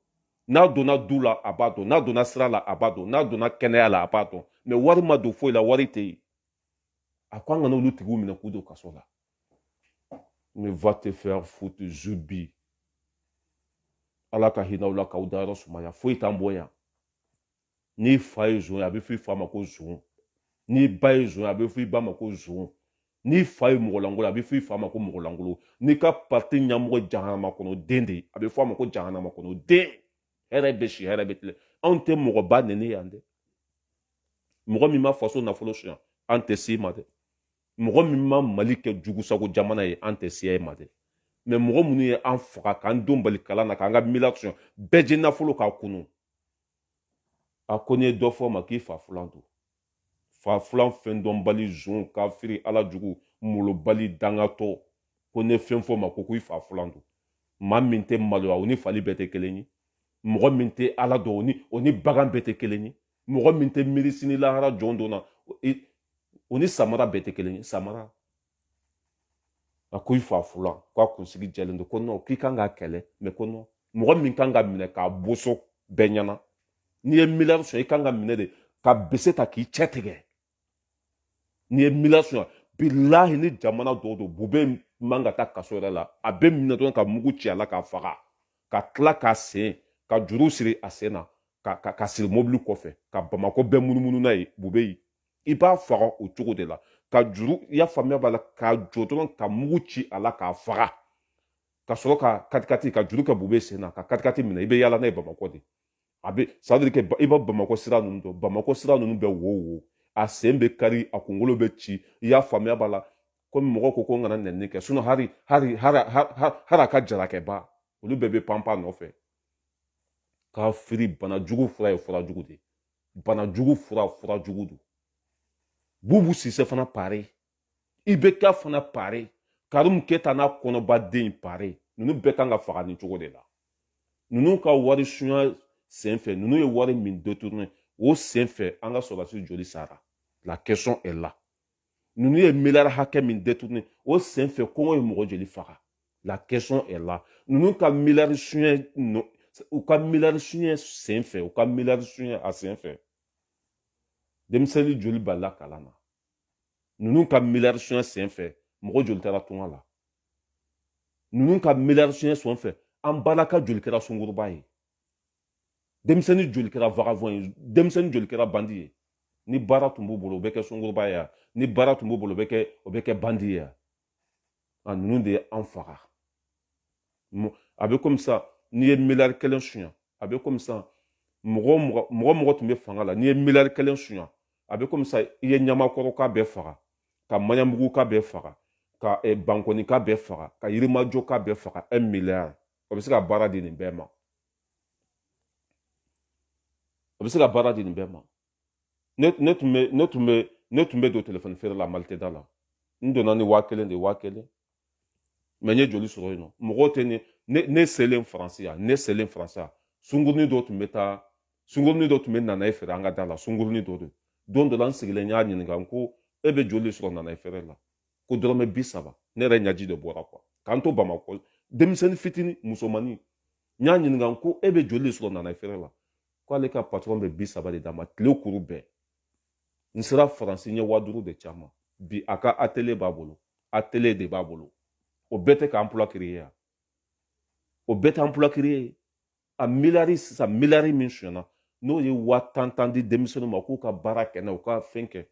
n'a donna du la a b'a dɔn n'a donna sira la a b'a dɔn n'a donna kɛnɛya la a b'a dɔn mɛ wari ma don foyi la wari tɛ yen a ko an kana olu tigiw minɛ k'u don kaso la mais va te faire foutre zubi ala ka hinɛ aw la k'aw dayɔrɔ sumaya foyi t'an bɔ yan n'i fa ye zon ye a bɛ fɔ i fa ma ko zon n'i ba ye zon ye a bɛ fɔ i ba ma ko zon n'i fa ye mɔgɔlankolon a bɛ fɔ i fa ma ko mɔgɔlankolon n'i ka pati ɲɛmɔgɔ jahanama kɔnɔ den de a bɛ fɔ a ma ko jahanama kɔnɔ den hɛrɛ bɛ si hɛrɛ bɛ tilen anw tɛ mɔgɔba nɛni yan dɛ mɔgɔ min ma faso nafolo sonya an tɛ s'i ma dɛ mɔgɔ min ma mali kɛ jugusago jamana ye an tɛ se a ma dɛ mɛ mɔgɔ minnu ye an faga k'an denw bali kalan na k'an ka miliyari sonya bɛɛ jɛ nafolo k'a kunu a ko n'i ye dɔ fɔ ma k'i fa filan don fa filan fɛn dɔnbali zon kafiri ala jugu malobali dangatɔ ko n'i ye fɛn fɔ ma ko ko i fa filan don maa min tɛ maloya o ni fali bɛɛ tɛ kelen ye mɔgɔ min tɛ ala dɔn o ni o ni bagan bɛɛ tɛ kelen ye mɔgɔ min tɛ miiri sini lahara jɔ don na o ni samara bɛɛ tɛ kelen ye samara a ko i fa fulan ko a kunsigi jɛlen don ko nɔn k'i kan k'a kɛlɛ mɛ ko nɔn mɔgɔ min kan ka minɛ k'a boso bɛɛ ɲɛna n'i ye miliyari sonya i kan ka minɛ de ka bese ta k'i cɛ tigɛ n'i ye miliyari sonya bilahi ni jamana dɔw don bube man ka taa kaso yɛrɛ la a bɛ minɛ dɔrɔn ka mugu ci a la k'a faga ka tila k'a sen ka juru siri a sen na ka ka ka siri mobili kɔfɛ ka bamakɔ bɛɛ munumunu n'a ye bubeyi i b'a faga o cogo de la ka juru i y'a faamuya b'a la k'a jɔ dɔrɔn ka mugu ci a la k'a faga ka sɔrɔ ka katikati ka juru kɛ bube sen na ka katikati minɛ i bɛ yaala n'a ye bamakɔ de a bɛ ça veut dire que i bɛ bamakɔ sira ninnu dɔn bamakɔ sira ninnu bɛɛ wo wo a sen bɛ kari a kunkolo bɛ ci i y'a faamuya b'a la komi mɔgɔ ko ko n kana nɛni kɛ sinɔn hari hari hari hari a ka jarakɛba olu bɛɛ bɛ panpan nɔfɛ k'a firi bana jugu fura ye fura jugu de bana jugu fura fura jugu don bubu sise fana pare ibeka fana pare karimu keta n'a kɔnɔba den pare ninnu bɛɛ kan ka faga nin cogo de la ninnu ka wari sunya sen fɛ ninnu ye wari min détourné o sen fɛ an ka sɔrɔdasi joli sara la question est là ninnu ye miliyari hakɛ min détourné o sen fɛ kɔngɔ ye mɔgɔ joli faga la question est là ninnu ka miliyari suɲɛ u ka miliyari suɲɛ sen fɛ u ka miliyari suɲɛ a sen fɛ denmisɛnnin joli balila kalan na ninnu ka miliyari suɲɛ sen fɛ mɔgɔ joli taara tunga la ninnu ka miliyari suɲɛ sen fɛ an balaka joli kɛra sunguruba ye denmisɛnnin joli kɛra vagabond ye denmisɛnnin joli kɛra bandi ye ni baara tun b'u bolo o bɛ kɛ sunguruba ye ni baara tun b'u bolo o bɛ kɛ o bɛ kɛ bandi ye a ninnu de ye an faga a bɛ komi sa n'i ye miliyari kelen suɲa a bɛ komi sa mɔgɔ mɔgɔ mɔgɔ mɔgɔ tun bɛ fanga la n'i ye miliyari kelen suɲa a bɛ komi sa i ye ɲamakɔrɔka bɛɛ faga ka maɲanbuguka bɛɛ faga ka eh, bankɔnika bɛɛ faga ka yirimajɔka bɛɛ faga un miliyari o bɛ se ka baara di nin bɛɛ ma o bɛ se ka baara di nin bɛɛ ma ne tun bɛ ne tun bɛ ne tun bɛ don telefɔni feere la maliteda la n donna ni waa kelen de waa kelen mais n ye joli sɔrɔ yen non mɔgɔw tɛ ne ne ne selen faransi yan ne selen faransi yan sungurunin dɔ tun bɛ taa sungurunin dɔ tun bɛ nanaye feere an ka da la sungurunin dɔ don don dɔ la n sigilen n y'a ɲininka n ko e bɛ joli sɔrɔ nanaye feere la ko dɔrɔmɛ bi saba ne yɛrɛ ɲaji de bɔra quoi k'an to bamakɔ denmisɛnnin fitinin musomannin n y'a ɲininka n ko e bɛ joli de sɔrɔ nanaye feere la k'ale ka patɔrɔn bɛ bi saba de d'a ma tile kuru bɛɛ n sera faransi n ye waa duuru de c'a ma bi a ka atelier b'a bolo atelier de b'a bolo o bɛɛ tɛ ka emploi créer yan o bɛɛ tɛ emploi créer a miliyari sisan miliyari min sonyana n'o ye waa tan tan di denmisɛnninw ma k'u ka baara kɛ n'a u ka fɛn kɛ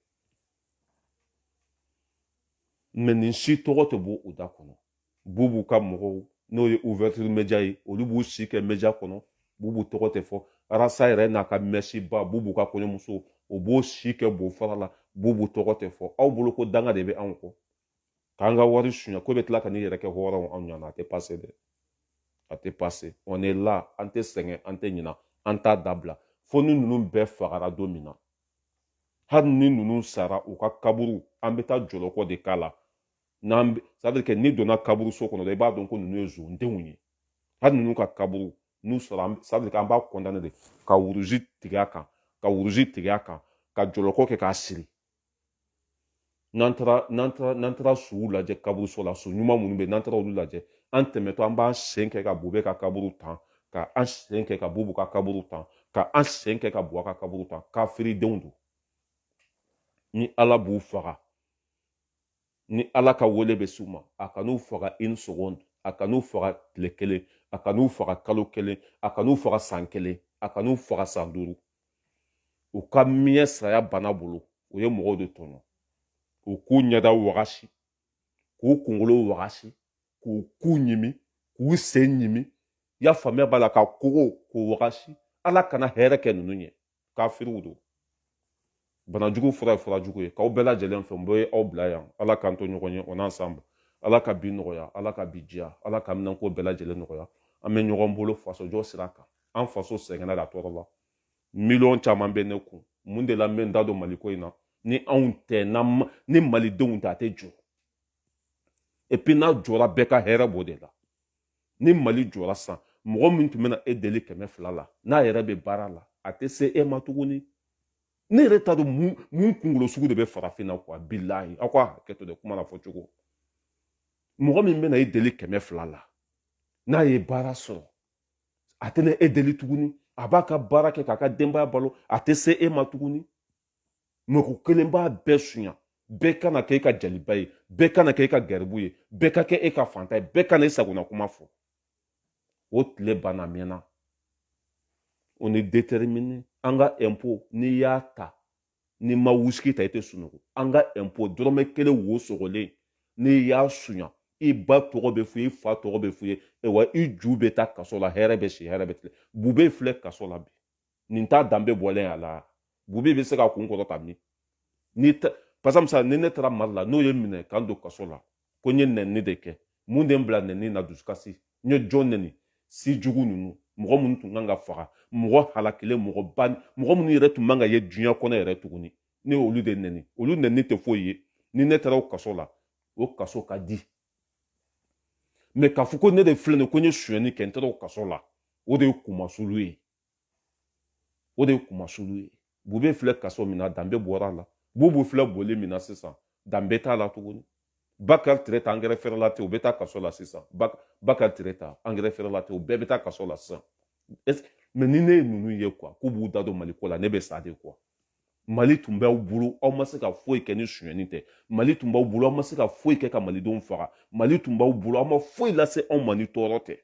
mais nin si tɔgɔ tɛ bɔ u da kɔnɔ bubu ka mɔgɔw n'o ye ouverture media ye olu b'u si kɛ media kɔnɔ bubu tɔgɔ tɛ fɔ arasa yɛrɛ n'a ka mɛsiba bubu ka kɔɲɔmuso o b'o si kɛ bo fara la bubu tɔgɔ tɛ fɔ aw bolo ko danga de bɛ anw kɔ k'an ka wari suɲɛ k'o bɛ tila ka n'i yɛrɛ kɛ hɔrɔnw anw ɲana a tɛ pase dɛ a tɛ pase on est là an tɛ sɛgɛn an tɛ ɲina an t'a dabila fo ni ninnu bɛɛ fagara don min na hali ni ninnu sara u ka kaburu an bɛ taa jɔlɔkɔ de k'a la c'est-à-dire que n'i donna kaburuso kɔnɔ dɛ i b'a dɔn ko ninnu ye zondenw ye hali ninnu ka kaburu n'u sara c'est-à-dire que an b'a condamné de ka wuruzi tigɛ a kan ka wuruzi tigɛ a kan ka jɔlɔkɔ kɛ k'a siri n'an taara n'an taara n'an taara suw lajɛ kaburuso la su ɲuman minnu bɛ yen n'an taara olu lajɛ an tɛmɛtɔ an b'an sen kɛ ka bube ka kaburu tan ka an sen kɛ ka bubu ka kaburu tan ka an sen kɛ ka buwa ka kaburu tan kafiridenw don ni ala b'u faga ni ala ka wele bɛ s'u ma a kan'u faga un seconde a kan'u faga tile kelen a kan'u faga kalo kelen a kan'u faga san kelen a kan'u faga san duuru u ka miɲɛ saya bana bolo u ye mɔgɔw de tɔɲɔ u k'u ɲɛda wagasi k'u kunkolo wagasi k'u ku ɲimi k'u sen ɲimi i y'a faamuya b'a la ka kogo k'u wagasi ala kana hɛrɛ kɛ ninnu ye kafiriw don banajugu fura ye fura jugu ye k'aw bɛɛ lajɛlen fɛ n bɛ aw bila yan ala k'an to ɲɔgɔn ye on est ensemble ala ka bi nɔgɔya ala ka bi diya ala ka minɛnko bɛɛ lajɛlen nɔgɔya an bɛ ɲɔgɔn bolo fasojɔ sira kan an faso sɛgɛnna a tɔɔrɔla miliyɔn caman bɛ ne kun mun de la n bɛ n da don maliko in na ni anw tɛ ni malidenw tɛ a tɛ jɔ epi n'a jɔra bɛɛ ka hɛrɛ b'o de la ni mali jɔra san mɔgɔ min tun bɛna e deli kɛmɛ fila la n'a yɛrɛ bɛ baara la a tɛ se e ma tuguni ne yɛrɛ t'a dɔn mun kunkolo sugu de bɛ farafin na kuwa bilahi aw ka hakɛ to dɛ kuma na fɔ cogo mɔgɔ min bɛna e deli kɛmɛ fila la n'a ye baara sɔrɔ a tɛna e deli tuguni a b'a ka baara kɛ k'a ka denbaya balo a tɛ se e ma tuguni mɔgɔ kelen b'a bɛɛ sunya bɛɛ kana kɛ e ka jaliba ye bɛɛ kana kɛ e ka garibu ye bɛɛ ka kɛ e ka faantan ye bɛɛ kana e sagona kuma fɔ o tile banna mɛɛnna on est déterminé an ka ɛnpo n'i y'a ta n'i ma wusiki ta i tɛ sunɔgɔ an ka ɛnpo dɔrɔmɛ kelen wo sogolen n'i y'a sunya i ba tɔgɔ bɛ f'i ye i fa tɔgɔ bɛ f'i ye wa i ju bɛ taa kaso la hɛrɛ bɛ si hɛrɛ bɛ tile bube filɛ kaso la bi nin t'a danbe bɔlen a la bube bɛ se k'a kun kɔrɔta min par exemple ni ne taara mali la n'o ye n minɛ ka n don kaso la ko n ye nɛni de kɛ mun de n bila nɛni na dusukasi n ye jɔn nɛni si jugu ninnu mɔgɔ minnu tun kan ka faga mɔgɔ halakilen mɔgɔ ba mɔgɔ minnu yɛrɛ tun man ka ye diɲɛ kɔnɔ yɛrɛ tuguni ne y'olu de nɛni olu nɛni tɛ foyi ye ni ne taara o kaso la o kaso ka di mɛ k'a fɔ ko ne de filɛ nin ko n ye sonyɛni kɛ n taara o kaso la o de ye kumasulu ye o de ye kumasulu ye bube filɛ kaso min na danbe bɔra a la bubu filɛ boli min na sisan danbe t'a la tuguni bakari tereta angɛrɛ frelaté u bɛ taa kaso la sisan bakari tereta angɛrɛ frelaté u bɛɛ bɛ taa kaso la sisan mɛ ni ne ye ninnu ye kuwa k'u b'u da don mali ko la ne bɛ sa de kuwa mali tun b'aw bolo aw ma se ka foyi kɛ ni sonyɛni tɛ mali tun b'aw bolo aw ma se ka foyi kɛ ka malidenw faga mali tun b'aw bolo aw ma foyi lase anw ma ni tɔɔrɔ tɛ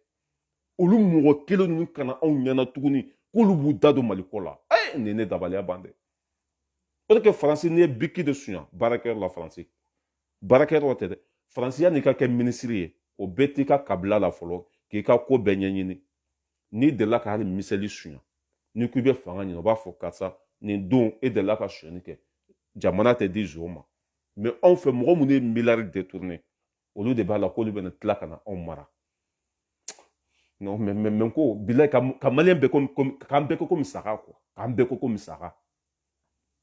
olu mɔgɔ kelen ninnu ka na anw ɲɛ na tuguni k'olu b'u da don mali ko la ɛ nin ye ne dabaliya ban dɛ o tɛ kɛ faransi n'i ye biki de suɲa baarakɛyɔrɔ la faransi baarakɛyɔrɔ tɛ dɛ faransi yan'i ka kɛ minisiri ye o bɛ t'i ka kabila la fɔlɔ k'i ka ko bɛɛ ɲɛɲini n'i delila ka hali miseli suɲa n'i ko i bɛ fanga ɲini o b'a fɔ karisa nin don e delila ka suɲɛni kɛ jamana tɛ di zon ma mɛ anw fɛ mɔgɔ minnu ye miliyari detourne olu de b'a la k'olu bɛna tila ka na anw mara non mais mais mais ko bilayi ka ka maliyɛn bɛɛ komi komi k'an bɛɛ kɛ komi saga quoi k'an bɛɛ kɛ komi saga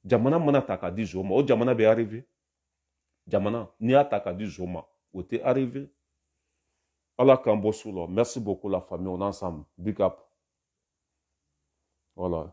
jamana mana ta k'a di zo ma o jamana bɛ arrivé jamana n'i y'a ta k'a di zo ma o tɛ arrivé ala k'an bɔ su la merci beaucoup la famille on est ensemble big up voilà